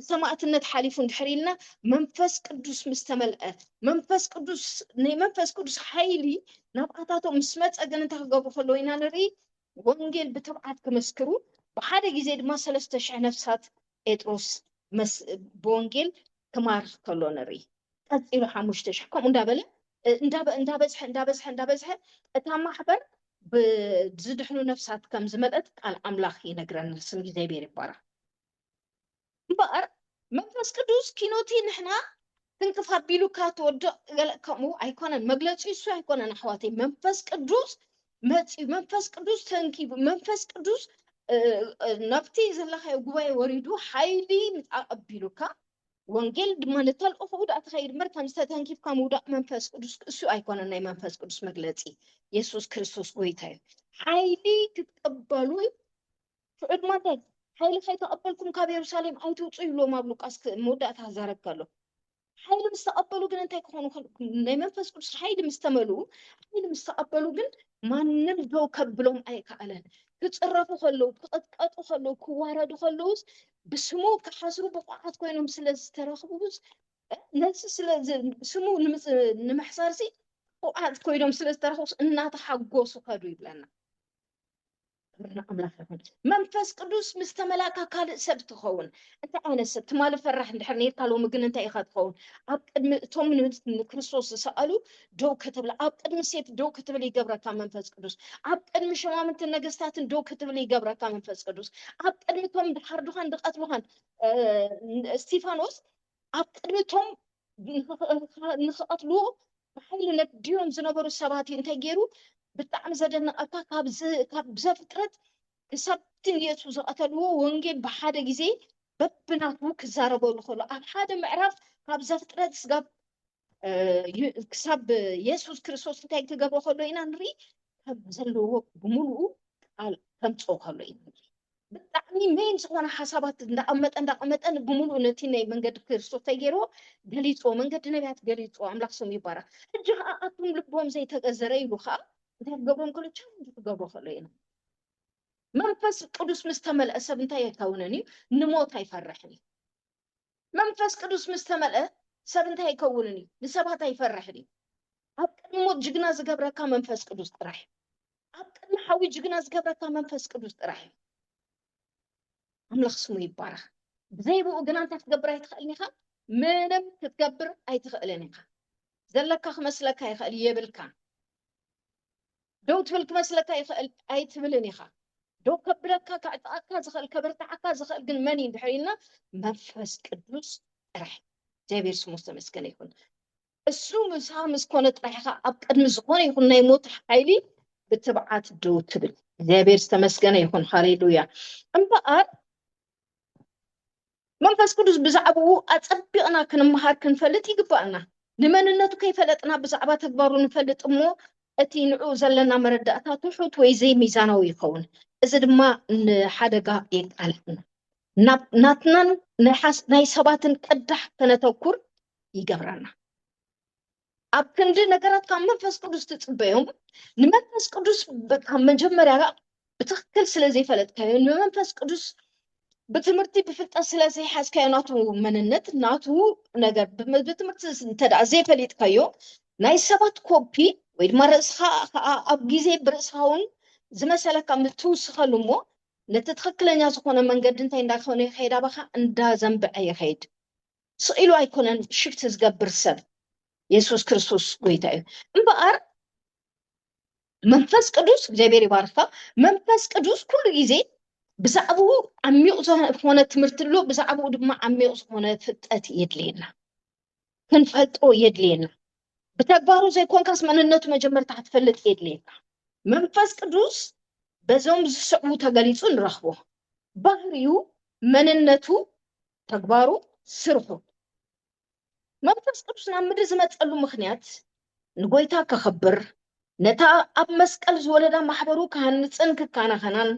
ሰማእትነት ሓሊፉ እንድሕር ኢልና መንፈስ ቅዱስ ምስ ተመልአ መንፈስ ቅዱስ ናይ መንፈስ ቅዱስ ሓይሊ ናብኣታቶም ምስ መፀ ግን እንታይ ክገብሩ ከለዎ ኢና ንርኢ ወንጌል ብትብዓት ክመስክሩ ብሓደ ግዜ ድማ ሰለስተ ሽሕ ነፍሳት ጴጥሮስ መስ ብወንጌል ክማርኽ ከሎ ንርኢ። ቀጺሉ ሓሙሽተ ሽሕ ከምኡ እንዳበለ እንዳበዝሐ እንዳበዝሐ እንዳበዝሐ እታ ማሕበር ብዝድሕኑ ነፍሳት ከም ዝመልአት ቃል ኣምላኽ ይነግረና። ስም እግዚኣብሔር ይባረኽ። እምበኣር መንፈስ ቅዱስ ኪኖቲ ንሕና ትንክፍ ኣቢሉካ ትወድቕ ገለ ከምኡ ኣይኮነን መግለጺ እሱ ኣይኮነን ኣሕዋተይ መንፈስ ቅዱስ መጺኡ መንፈስ ቅዱስ ተንኪቡ መንፈስ ቅዱስ ናብቲ ዘለኻዮ ጉባኤ ወሪዱ ሓይሊ ኣቐቢሉካ ወንጌል ድማ ንተልእኹኡ ዳኣ ተኸይድ እምበር ከም ዝተተንኪፍካ ምውዳቕ መንፈስ ቅዱስ እሱ ኣይኮነ ናይ መንፈስ ቅዱስ መግለፂ የሱስ ክርስቶስ ጎይታ እዩ ሓይሊ ክትቀበሉ ትዕድማተይ፣ ሓይሊ ኸይተቐበልኩም ካብ የሩሳሌም ኣይትውጹ ይብልዎም ኣብ ሉቃስ ክእ መወዳእታ ዛረብ ከሎ። ሓይሊ ምስ ተቐበሉ ግን እንታይ ክኾኑ ከል- ናይ መንፈስ ቅዱስ ሓይሊ ምስ ተመልኡ ሓይሊ ምስ ተቐበሉ ግን ማንም ደው ከብሎም ኣይከኣለን። ክጽረፉ ከለዉ፣ ክቕጥቀጡ ከለዉ፣ ክዋረዱ ከለዉስ ብስሙ ክሓስሩ ብቑዓት ኮይኖም ስለ ዝተረኽቡስ እ፣ ነዚ ስለ ዝ- ስሙ ንምጽ- ንምሕሳርሲ ብቑዓት ኮይኖም ስለ ዝተረኽቡስ እናተሓጎሱ ከዱ ይብለና። ክብሪ ንኣምላኽ ይኹን። መንፈስ ቅዱስ ምስ ተመላእካ ካልእ ሰብ ትኸውን። እንታይ ዓይነት ሰብ? ትማሊ ፈራሕ እንድሕር ነይርካ ሎሚ ግን እንታይ ኢኻ ትኸውን? ኣብ ቅድሚ እቶም ንክርስቶስ ዝሰቐሉ ደው ክትብል ኣብ ቅድሚ ሴፍ ደው ክትብል ይገብረካ መንፈስ ቅዱስ። ኣብ ቅድሚ ሸማምንትን ነገስታትን ደው ክትብል ይገብረካ መንፈስ ቅዱስ። ኣብ ቅድሚ እቶም ድሓርዱኻን ድቐትሉኻን እስጢፋኖስ ኣብ ቅድሚ እቶም ንክቐትልዎ ብሓይሊ ነዲዮም ዝነበሩ ሰባት እዩ እንታይ ገይሩ ብጣዕሚ ዘደንቐካ ካብ ዘፍጥረት ክሳብ እቲ ንየሱስ ዝቐተልዎ ወንጌል ብሓደ ግዜ በብናቱ ክዛረበሉ ከሎ ኣብ ሓደ ምዕራፍ ካብ ዘፍጥረት ስጋብ ክሳብ የሱስ ክርስቶስ እንታይ ክገብሮ ከሎ ኢና ንርኢ ከም ዘለዎ ብምሉኡ ቃል ከምፅኦ ከሎ ኢና ንርኢ ብጣዕሚ ሜን ዝኾነ ሓሳባት እንዳቐመጠ እንዳቐመጠ ብምሉኡ ነቲ ናይ መንገዲ ክርስቶስ ተገይሮ ገሊፆ መንገዲ ነቢያት ገሊፆ ኣምላኽ ስም ይባረኽ ሕጂ ከዓ ኣቱም ልቦም ዘይተገዘረ ኢሉ ከዓ እንታይ ክገብሮም ከሎ ቻለንጅ ክገብሮ ከሎ ኢና መንፈስ ቅዱስ ምስ ተመልአ ሰብ እንታይ ኣይከውንን እዩ ንሞት ኣይፈርሕን እዩ መንፈስ ቅዱስ ምስ ተመልአ ሰብ እንታይ ኣይከውንን እዩ? ንሰባት ኣይፈርሕን እዩ። ኣብ ቅድሚ ሞት ጅግና ዝገብረካ መንፈስ ቅዱስ ጥራሕ እዩ። ኣብ ቅድሚ ሓዊ ጅግና ዝገብረካ መንፈስ ቅዱስ ጥራሕ እዩ። ኣምላኽ ስሙ ይባረኽ። ብዘይብኡ ግና እንታይ ክትገብር ኣይትኽእልን ኢኻ? ምንም ክትገብር ኣይትኽእልን ኢኻ። ዘለካ ክመስለካ ይኽእል የብልካ። ደው ትብል ክመስለካ ይኽእል ኣይትብልን ኢኻ ደው ከብለካ ከዕጥቐካ ዝኽእል ከበርትዓካ ዝኽእል ግን መን እዩ እንድሕር ኢልና መንፈስ ቅዱስ ጥራሕ እግዚኣብሔር ስሙ ዝተመስገነ ይኹን እሱ ምሳ ምስ ኮነ ጥራሕ ኢኻ ኣብ ቅድሚ ዝኾነ ይኹን ናይ ሞት ሓይሊ ብትብዓት ደው ትብል እግዚኣብሔር ዝተመስገነ ይኹን ሃሌሉያ እምበኣር መንፈስ ቅዱስ ብዛዕባኡ ኣጸቢቕና ክንመሃር ክንፈልጥ ይግባእና። ንመንነቱ ከይፈለጥና ብዛዕባ ተግባሩ ንፈልጥ እሞ እቲ ንዕኡ ዘለና መረዳእታ ትሑት ወይ ዘይሚዛናዊ ይኸውን። እዚ ድማ ንሓደጋ የቃልዕና። ናብ ናትናን ናይ ሰባትን ቅዳሕ ከነተኩር ይገብረና። ኣብ ክንዲ ነገራት ካብ መንፈስ ቅዱስ ትጽበዮም ንመንፈስ ቅዱስ ብ- ካብ መጀመርያ ከኣ ብትክክል ስለ ዘይፈለጥካዮ ንመንፈስ ቅዱስ ብትምህርቲ ብፍልጠት ስለ ዘይሓዝካዮ ናቱ መንነት ናቱ ነገር ብም- ብትምህርቲ እንተደኣ ዘይፈሊጥካዮ ናይ ሰባት ኮፒ ወይ ድማ ርእስኻ ከዓ ኣብ ግዜ ብርእስኻ እውን ዝመሰለካ ምስ ትውስኸሉ እሞ ነቲ ትክክለኛ ዝኾነ መንገዲ እንታይ እንዳኾነ ይኸይድ ኣባኻ እንዳዘንበዐ ይኸይድ ስቅ ኢሉ ኣይኮነን ሽፍት ዝገብር ሰብ የሱስ ክርስቶስ ጎይታ እዩ እምበኣር መንፈስ ቅዱስ እግዚኣብሔር ይባርካ መንፈስ ቅዱስ ኩሉ ግዜ ብዛዕባኡ ዓሚቕ ዝኾነ ትምህርቲ ኣሎ ብዛዕባኡ ድማ ዓሚቕ ዝኾነ ፍልጠት የድልየና ክንፈልጦ የድልየና ብተግባሩ ዘይኮንካስ መንነቱ መጀመርታ ክትፈልጥ የድልየና መንፈስ ቅዱስ በዞም ዝስዕቡ ተገሊፁ ንረኽቦ ባህሪኡ መንነቱ ተግባሩ፣ ስርሑ። መንፈስ ቅዱስ ናብ ምድሪ ዝመጸሉ ምኽንያት ንጎይታ ከኽብር፣ ነታ ኣብ መስቀል ዝወለዳ ማሕበሩ ክሃንጽን ክካናኸናን፣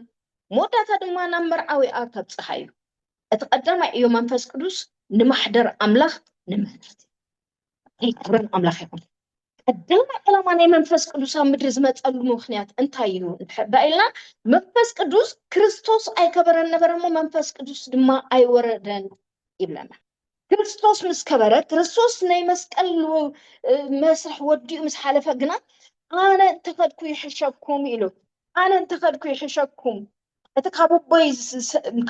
መወዳእታ ድማ ናብ መርዓዊኣ ከብጽሓ እዩ። እቲ ቀዳማይ ዕዮ መንፈስ ቅዱስ ንማሕደር ኣምላኽ ንምህረት እዩ። ክብሪ ኣምላኽ ይኹን። ቀዳማይ ዕላማ ናይ መንፈስ ቅዱስ ኣብ ምድሪ ዝመፀሉ ምክንያት እንታይ እዩ እንድሕር ዳ ኢልና መንፈስ ቅዱስ ክርስቶስ ኣይከበረን ነበረ እሞ መንፈስ ቅዱስ ድማ ኣይወረደን ይብለና። ክርስቶስ ምስ ከበረ ክርስቶስ ናይ መስቀል መስርሕ ወዲኡ ምስ ሓለፈ ግና ኣነ እንተኸድኩ ይሕሸኩም ኢሉ ኣነ እንተኸድኩ ይሕሸኩም እቲ ካብ ኣቦይ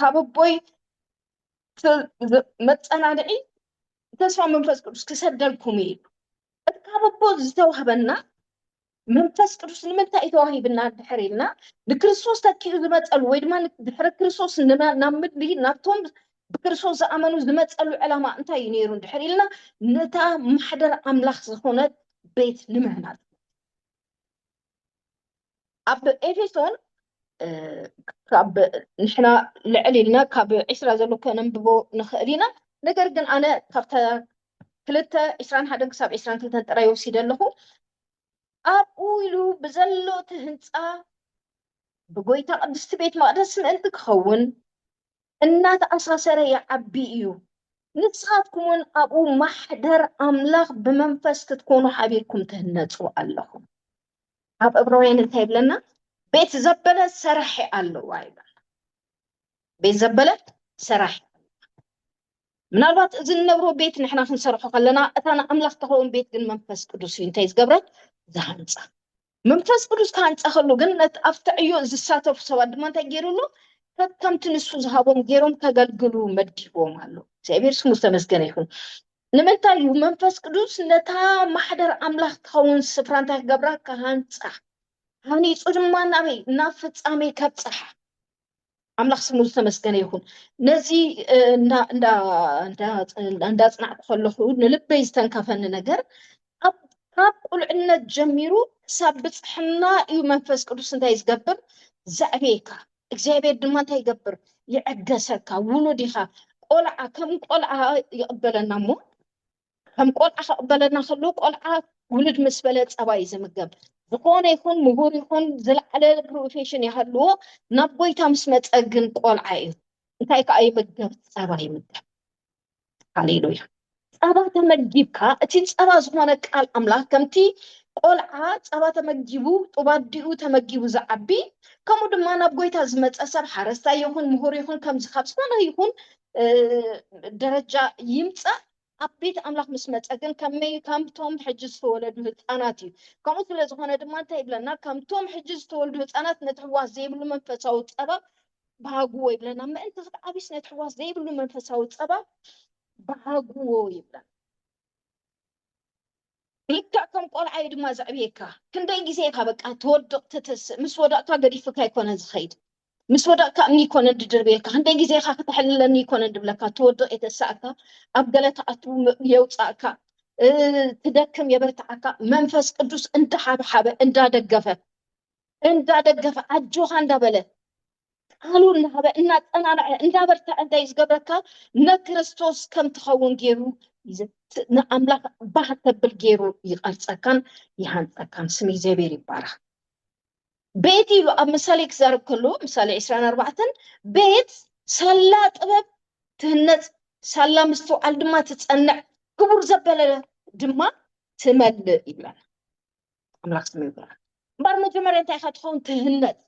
ካብ ኣቦይ መፀናንዒ ተስፋ መንፈስ ቅዱስ ክሰደልኩም እዩ ኢሉ እቲ ካብ ኣቦ ዝተዋህበና መንፈስ ቅዱስ ንምንታይ እዩ ተዋሂብና ድሕር ኢልና ንክርስቶስ ተኪኡ ዝመፀሉ ወይ ድማ ድሕሪ ክርስቶስ ናብ ምድሪ ናብቶም ብክርስቶስ ዝኣመኑ ዝመፀሉ ዕላማ እንታይ እዩ ነይሩ ድሕር ኢልና ነታ ማሕደር ኣምላኽ ዝኾነት ቤት ንምህናፅ ኣብ ኤፌሶን ካብ ንሕና ልዕል ኢልና ካብ ዒስራ ዘሎ ከነንብቦ ንኽእል ኢና ነገር ግን ኣነ ካብተ ክልተ ዒስራን ሓደን ክሳብ ዒስራን ክልተን ጥራይ ወሲደ ኣለኹ ኣብኡ ኢሉ ብዘሎ እቲ ህንፃ ብጎይታ ቅድስቲ ቤት መቅደስ ምእንቲ ክኸውን እናተኣሳሰረ ይዓቢ እዩ ንስኻትኩም እውን ኣብኡ ማሕደር ኣምላኽ ብመንፈስ ክትኮኑ ሓቢርኩም ትህነፁ ኣለኹም ኣብ ዕብራውያን እንታይ ይብለና? ቤት ዘበለ ሰራሒ ኣለዋ ይብለና። ቤት ዘበለ ሰራሒ ምናልባት እዚ ንነብሮ ቤት ንሕና ክንሰርሖ ከለና እታ ንኣምላኽ ተኸውን ቤት ግን መንፈስ ቅዱስ እዩ እንታይ ዝገብረ ዝሃንፃ መንፈስ ቅዱስ ክሃንፃ ከሉ ግን ነቲ ኣብቲ ዕዮ ዝሳተፉ ሰባት ድማ እንታይ ገይሩሉ ከከምቲ ንሱ ዝሃቦም ገይሮም ከገልግሉ መዲቦም ኣሎ እግዚኣብሔር ስሙ ዝተመስገነ ይኹን ንምንታይ እዩ መንፈስ ቅዱስ ነታ ማሕደር ኣምላኽ ትኸውን ስፍራ እንታይ ክገብራ ክሃንፃ ሃኒፁ ድማ ናበይ ናብ ፍፃሜ ከብፅሓ ኣምላኽ ስሙ ዝተመስገነ ይኹን ነዚ እንዳፅናዕኩ ከለኹ ንልበይ ዝተንከፈኒ ነገር ካብ ቁልዕነት ጀሚሩ ክሳብ ብፅሕና እዩ መንፈስ ቅዱስ እንታይ ዝገብር ዘዕብየካ እግዚኣብሔር ድማ እንታይ ይገብር ይዕገሰካ ውሉድ ኢኻ ቆልዓ ከም ቆልዓ ይቕበለና እሞ ከም ቆልዓ ክቕበለና ከሎ ቆልዓ ውሉድ ምስ በለ ፀባ እዩ ዝምገብ ዝኾነ ይኹን ምሁር ይኹን ዝለዓለ ፕሮፌሽን ይሃልዎ ናብ ጎይታ ምስ መፀ ግን ቆልዓ እዩ እንታይ ከዓ ይምገብ ፀባ ይምገብ ሃሌሉያ ጸባ ተመጊብካ እቲ ጸባ ዝኾነ ቃል ኣምላኽ ከምቲ ቆልዓ ጸባ ተመጊቡ ጡብ ኣዲኡ ተመጊቡ ዝዓቢ ከምኡ ድማ ናብ ጎይታ ዝመጸ ሰብ ሓረስታይ ይኹን ምሁር ይኹን ከምዚ ካብ ዝኾነ ይኹን ደረጃ ይምጻእ ኣብ ቤት ኣምላኽ ምስ መጸ ግን ከመይ ከምቶም ሕጂ ዝተወለዱ ህፃናት እዩ ከምኡ ስለ ዝኾነ ድማ እንታይ ይብለና ከምቶም ሕጂ ዝተወልዱ ህፃናት ነቲ ሕዋስ ዘይብሉ መንፈሳዊ ጸባ ባሃጉዎ ይብለና ምእንቲ ክትዓብዩ ስነ ትሕዋስ ዘይብሉ መንፈሳዊ ፀባ ባሃጉዎ ይብለና ልክዕ ከም ቆልዓ እዩ ድማ ዘዕብየካ ክንደይ ግዜ ኢካ በቃ ትወድቅ ትትስእ ምስ ወደቅካ ገዲፍካ ይኮነ ዝኸይድ ምስ ወደቅካ እምኒ ይኮነ ድድርብየካ ክንደይ ግዜ ኢካ ክተሕልለኒ ይኮነ ድብለካ ትወድቅ የተሳእካ ኣብ ገለ ተኣቱ የውፃእካ ትደክም የበርትዓካ መንፈስ ቅዱስ እንዳሓብሓበ እንዳደገፈ እንዳደገፈ ኣጆኻ እንዳበለ ቃሉ እናሃበ እናፀናንዐ እንዳበርተዐ እንታይ እዩ ዝገብረካ ንክርስቶስ ከም ትኸውን ገይሩ ንኣምላኽ ባህ ተብል ገይሩ ይቐርፀካን ይሃንፀካን ስም እግዚኣብሔር ይባረኽ ቤት ኢሉ ኣብ ምሳሌ ክዛረብ ከሎ ምሳሌ ዕስራን ኣርባዕተን ቤት ሳላ ጥበብ ትህነፅ ሳላ ምስትውዓል ድማ ትፀንዕ ክቡር ዘበለ ድማ ትመልእ ይብለና ኣምላኽ ስሙ ይባረክ እምበር መጀመርያ እንታይ ኢካ ትኸውን ትህነጽ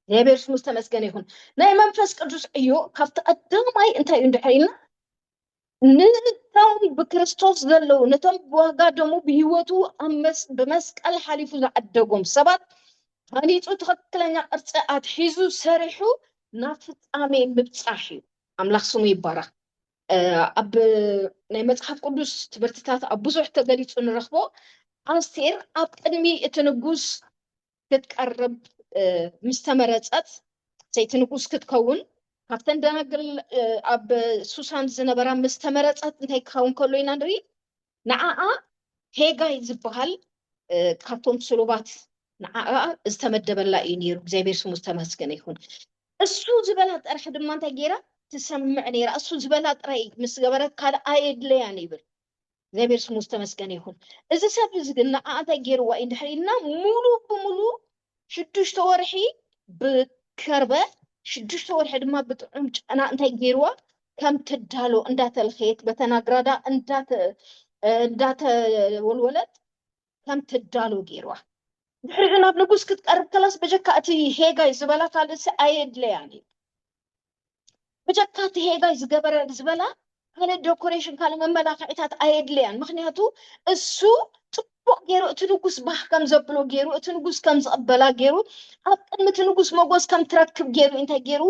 እግዚኣብሔር ስሙ ዝተመስገነ ይኹን ናይ መንፈስ ቅዱስ ዕዮ ካብቲ ቀዳማይ እንታይ እዩ እንድሕር ኢልና ንቶም ብክርስቶስ ዘለዉ ነቶም ብዋጋ ደሙ ብሂወቱ ብመስቀል ሓሊፉ ዝዓደጎም ሰባት ሃኒፁ ትክክለኛ ቅርፂ ኣትሒዙ ሰሪሑ ናብ ፍፃሜ ምብፃሕ እዩ ኣምላኽ ስሙ ይባረኽ ኣብ ናይ መጽሓፍ ቅዱስ ትምህርትታት ኣብ ብዙሕ ተገሊጹ ንረኽቦ ኣስቴር ኣብ ቅድሚ እቲ ንጉስ ክትቀርብ ምስ ተመረጸት ሰይቲ ንጉስ ክትከውን ካብተን ደናግል ኣብ ሱሳን ዝነበራ ምስ ተመረጸት እንታይ ክኸውን ከሎ ኢና ንርኢ ንዓኣ ሄጋይ ዝበሃል ካብቶም ስሩባት ንዓኣ ዝተመደበላ እዩ ነይሩ። እግዚኣብሔር ስሙ ዝተመስገነ ይኹን። እሱ ዝበላ ጥራሕ ድማ እንታይ ገይራ ትሰምዕ ነይራ። እሱ ዝበላ ጥራይ ምስ ገበረት ካልእ ኣየድለያን ይብል። እግዚኣብሔር ስሙ ዝተመስገነ ይኹን። እዚ ሰብ እዚ ግን ንዓኣ እንታይ ገይርዋ እዩ እንድሕር ኢልና ሙሉ ብሙሉ ሽዱሽተ ወርሒ ብከርበ ሽዱሽተ ወርሒ ድማ ብጥዑም ጨና እንታይ ገይርዋ ከም ትዳሎ እንዳተልኸየት በተናግራዳ እንዳተ እንዳተወልወለት ከም ትዳሎ ገይርዋ ድሕሪኡ ናብ ንጉስ ክትቀርብ ከላስ በጀካ እቲ ሄጋይ ዝበላ ካልእሲ ኣየድለያን እዩ ብጀካ እቲ ሄጋይ ዝገበረ ዝበላ ኣነ ደኮሬሽን ካልእ መመላኽዒታት ኣየድልያን ምኽንያቱ እሱ ጽቡቕ ገይሩ እቲ ንጉስ ባህ ከም ዘብሎ ገይሩ እቲ ንጉስ ከም ዝቕበላ ገይሩ ኣብ ቅድሚ እቲ ንጉስ መጎስ ከም ትረክብ ገይሩ እንታይ ገይሩ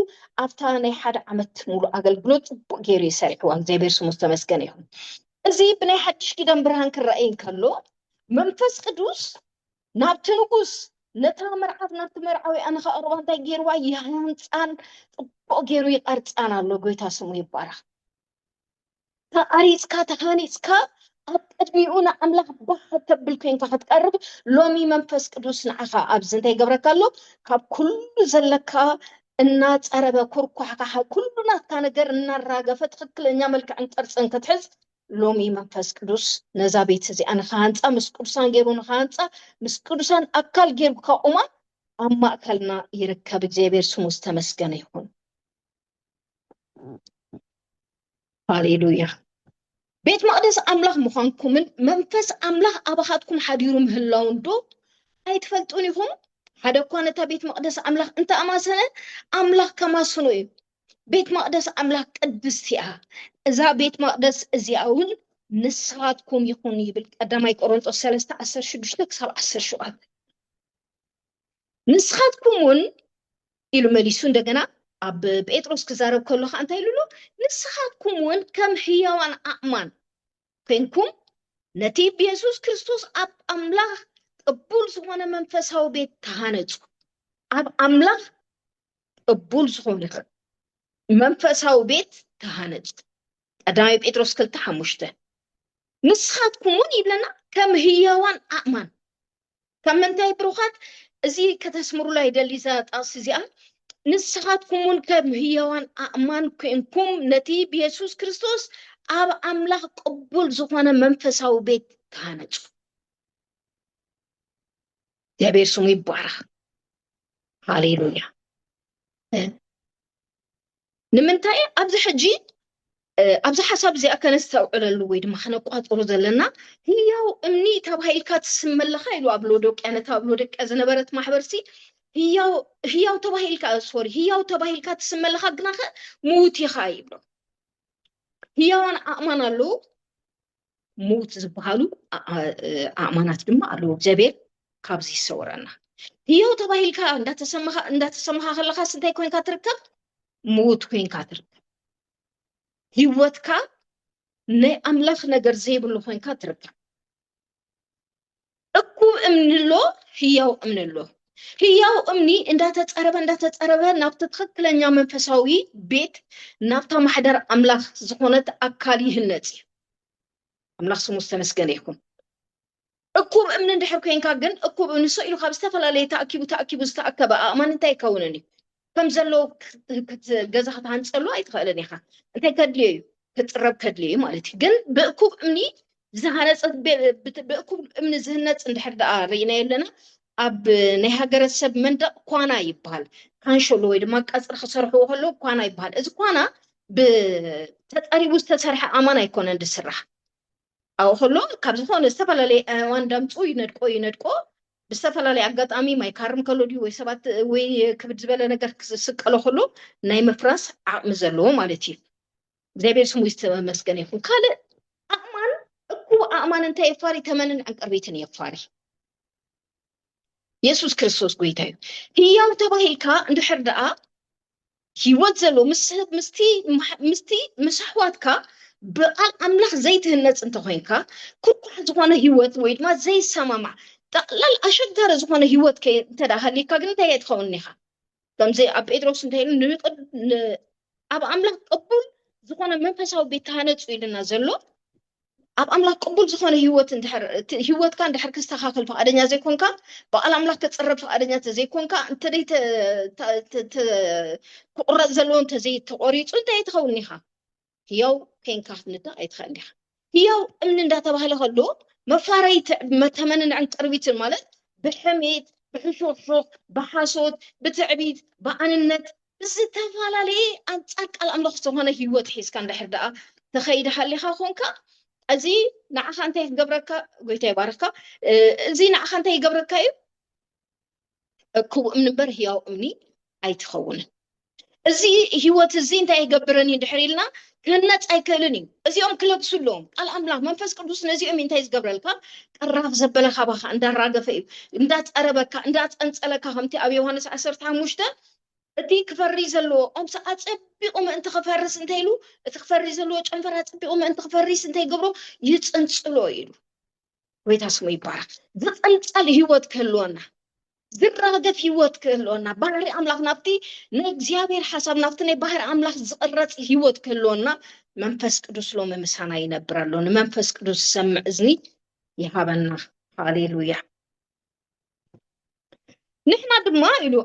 ኣብታ ናይ ሓደ ዓመት ሙሉ ኣገልግሎት ጽቡቕ ገይሩ እዩ ሰሪሕዋ እግዚኣብሔር ስሙ ዝተመስገነ ይኹን እዚ ብናይ ሓድሽ ኪዳን ብርሃን ክረኣይ እንከሎ መንፈስ ቅዱስ ናብቲ ንጉስ ነታ መርዓት ናብቲ መርዓዊኣ ንኸቕርባ እንታይ ገይርዋ ይሃንፃን ፅቡቕ ገይሩ ይቐርፃን ኣሎ ጎይታ ስሙ ይባረኽ ተቐሪፅካ ተሃኒፅካ ኣብ ቅድሚኡ ንኣምላኽ ባህ ተብል ኮንካ ክትቀርብ ሎሚ መንፈስ ቅዱስ ንዓኻ ኣብዚ እንታይ ገብረካ ኣሎ ካብ ኩሉ ዘለካ እናፀረበ ኩርኳሕካ ኩሉ ናትካ ነገር እናራገፈ ትኽክለኛ መልክዕን ቅርፅን ክትሕዝ ሎሚ መንፈስ ቅዱስ ነዛ ቤት እዚኣ ንክሃንፃ ምስ ቅዱሳን ገይሩ ንክሃንፃ ምስ ቅዱሳን ኣካል ገይሩ ከቑማ ኣብ ማእከልና ይርከብ እግዚኣብሔር ስሙ ዝተመስገነ ይኹን ሃሌሉያ ቤት መቅደስ ኣምላኽ ምዃንኩምን መንፈስ ኣምላኽ ኣባኻትኩም ሓዲሩ ምህላውን ዶ ኣይትፈልጡን ኢኹም ሓደ እኳ ነታ ቤት መቅደስ ኣምላኽ እንተኣማሰነ ኣምላኽ ከማስኑ እዩ ቤት መቅደስ ኣምላክ ቅድስቲ እያ እዛ ቤት መቅደስ እዚኣ እውን ንስኻትኩም ይኹን ይብል ቀዳማይ ቆሮንጦስ ሰለስተ ዓሰርተ ሽዱሽተ ክሳብ ዓሰርተ ሸውዓተ ንስኻትኩም እውን ኢሉ መሊሱ እንደገና ኣብ ጴጥሮስ ክዛረብ ከሎ ከዓ እንታይ ኢሉ ንስኻትኩም እውን ከም ህያዋን ኣእማን ኮንኩም ነቲ ብየሱስ ክርስቶስ ኣብ ኣምላኽ ቅቡል ዝኾነ መንፈሳዊ ቤት ተሃነፁ ኣብ ኣምላኽ ቅቡል ዝኾነ መንፈሳዊ ቤት ተሃነጽ ቀዳማይ ጴጥሮስ ክልተ ሓሙሽተ ንስኻትኩም እውን ይብለና ከም ህያዋን ኣእማን ካብ ምንታይ ብሩኻት እዚ ከተስምሩላ ይደሊ እዛ ጣቕሲ እዚኣ ንስኻትኩም እውን ከም ህያዋን ኣእማን ኮንኩም ነቲ ብየሱስ ክርስቶስ ኣብ ኣምላኽ ቅቡል ዝኾነ መንፈሳዊ ቤት ተሃነጹ እግዚኣብሔር ስሙ ይባረኽ። ሃሌሉያ። ንምንታይ ኣብዚ ሕጂ ኣብዚ ሓሳብ እዚኣ ከነስተውዕለሉ ወይ ድማ ከነቋፅሮ ዘለና ህያው እምኒ ተባሂልካ ትስም ኣለካ ኢሉ ኣብ ሎዶቅያ ነታ ኣብ ሎዶቅያ ዝነበረት ማሕበርሲ ህያው ተባሂልካ ሶሪ ህያው ተባሂልካ ትስም ኣለካ ግናኸ ምዉት ኢኻ ይብሎ ህያዋን ኣእማን ኣለዉ ምዉት ዝበሃሉ ኣእማናት ድማ ኣለዉ እግዚኣብሔር ካብዚ ይሰወረና ህያው ተባሂልካ እንዳተሰማኻ ከለካ ስንታይ ኮንካ ትርከብ ምዉት ኮንካ ትርከብ ህይወትካ ናይ ኣምላኽ ነገር ዘይብሉ ኮንካ ትርከብ እኩብ እምኒ ኣሎ፣ ህያው እምኒ ኣሎ። ህያው እምኒ እንዳተፀረበ እንዳተፀረበ ናብቲ ትኽክለኛ መንፈሳዊ ቤት ናብታ ማሕደር ኣምላኽ ዝኾነት ኣካል ይህነፅ እዩ። ኣምላኽ ስሙ ዝተመስገነ ይኹን። እኩብ እምኒ እንድሕር ኮይንካ ግን እኩብ እምኒ ሰ ኢሉ ካብ ዝተፈላለየ ተኣኪቡ ተኣኪቡ ዝተኣከበ ኣእማን እንታይ ይከውንን እዩ? ከም ዘለዎ ገዛ ክትሃንፀሉ ኣይትኽእልን ኢኻ እንታይ ከድልዮ እዩ ክፅረብ ከድልዮ እዩ ማለት እዩ ግን ብእኩብ እምኒ ዝሃነፀ ብእኩብ እምኒ ዝህነፅ እንድሕር ደኣ ርኢናዮ ኣለና ኣብ ናይ ሃገረሰብ መንደቕ ኳና ይበሃል ካንሸሎ ወይ ድማ ቀፅሪ ክሰርሕዎ ከለዉ ኳና ይበሃል እዚ ኳና ብተፀሪቡ ዝተሰርሐ ኣማን ኣይኮነን ዝስራሕ ኣብኡ ከሎ ካብ ዝኾነ ዝተፈላለየ ኣእዋን ዳምፁ ይነድቆ ይነድቆ ብዝተፈላለየ ኣጋጣሚ ማይ ካርም ከሎ ድዩ ወይ ሰባት ወይ ክብድ ዝበለ ነገር ክስቀሎ ከሎ ናይ ምፍራስ ዓቕሚ ዘለዎ ማለት እዩ እግዚኣብሔር ስሙ ዝተመስገነ ይኹን ካልእ ኣእማን እኩብ ኣእማን እንታይ የፋሪ ተመንን ዕንቅርቢትን የፋሪ የሱስ ክርስቶስ ጎይታ እዩ ህያው ተባሂልካ እንድሕር ደኣ ህይወት ዘሎ ምስ ሰብ ምስቲ ማሕ- ምስቲ ምስ ኣሕዋትካ ብቃል ኣምላኽ ዘይትህነጽ እንተኮይንካ ኩርኳሕ ዝኾነ ህይወት ወይ ድማ ዘይሰማማዕ ጠቕላል ኣሸጋሪ ዝኾነ ህይወት ከ እንተ ደኣ ሃልዩካ ግን እንታይ ኣይትኸውን ኢኻ ከምዚ ኣብ ጴጥሮስ እንታይ ኢሉ ንቅድ- ን- ኣብ ኣምላኽ ቅቡል ዝኾነ መንፈሳዊ ቤት ተሃነጹ ኢሉና ዘሎ ኣብ ኣምላኽ ቅቡል ዝኾነ ህይወት እንድሕር እቲ ህይወትካ እንድሕር ክስተኻኸል ፍቓደኛ ዘይኮንካ ብቓል ኣምላኽ ክጽረብ ፍቓደኛ እንተዘይኮንካ እንተደይ ተ- ተ- ተ- ተ- ክቑረጽ ዘለዎ እንተዘይ ተቖሪጹ እንታይ ኣይትኸውን ኢኻ ህያው ኮንካ ክትንዳ ኣይትኽእል ኢኻ ህያው እምኒ እንዳተባህለ ከሎ መፋረይ ተ- መተመንንዕን ቅርቢትን ማለት ብሕሜት ብሕሹኽሹኽ ብሓሶት ብትዕቢት ብኣንነት ብዝተፈላለየ ኣንጻር ቃል ኣምላኽ ዝኾነ ህይወት ሒዝካ እንድሕር ደኣ ተኸይድ ሃሊኻ ኮንካ እዚ ንዓኻ እንታይ ክገብረካ ጎይታ ይባርኽካ እዚ ንዓኻ እንታይ ይገብረካ እዩ እኩብ እምኒ እምበር ህያው እምኒ ኣይትኸውንን እዚ ህይወት እዚ እንታይ ይገብረኒ ድሕር ኢልና ክህነፅ ኣይክእልን እዩ እዚኦም ክለብሱ ኣለዎም ቃል ኣምላኽ መንፈስ ቅዱስ ነዚኦም እንታይ ዝገብረልካ ቀራፍ ዘበለ ካባኻ እንዳራገፈ እዩ እንዳፀረበካ እንዳፀንፀለካ ከምቲ ኣብ ዮሃንስ ዓሰርተ ሓሙሽተ እቲ ክፈሪ ዘለዎ ኦምስ ኣጸቢቑ ምእንቲ ክፈርስ እንተ ኢሉ፣ እቲ ክፈሪ ዘለዎ ጨንፈር ኣጸቢቑ ምእንቲ ክፈሪስ እንተ ይገብሮ ይጽንጽሎ ኢሉ። ጎይታ ስሙ ይባረኽ። ዝጽንጸል ህይወት ክህልወና፣ ዝራገፍ ህይወት ክህልወና፣ ባህሪ ኣምላኽ ናብቲ ናይ እግዚኣብሔር ሓሳብ ናብቲ ናይ ባህሪ ኣምላኽ ዝቕረጽ ህይወት ክህልወና መንፈስ ቅዱስ ሎሚ ምሳና ይነብር ኣሎ። ንመንፈስ ቅዱስ ዝሰምዕ እዝኒ ይሃበና። ሃሌሉያ። ንሕና ድማ ኢሉ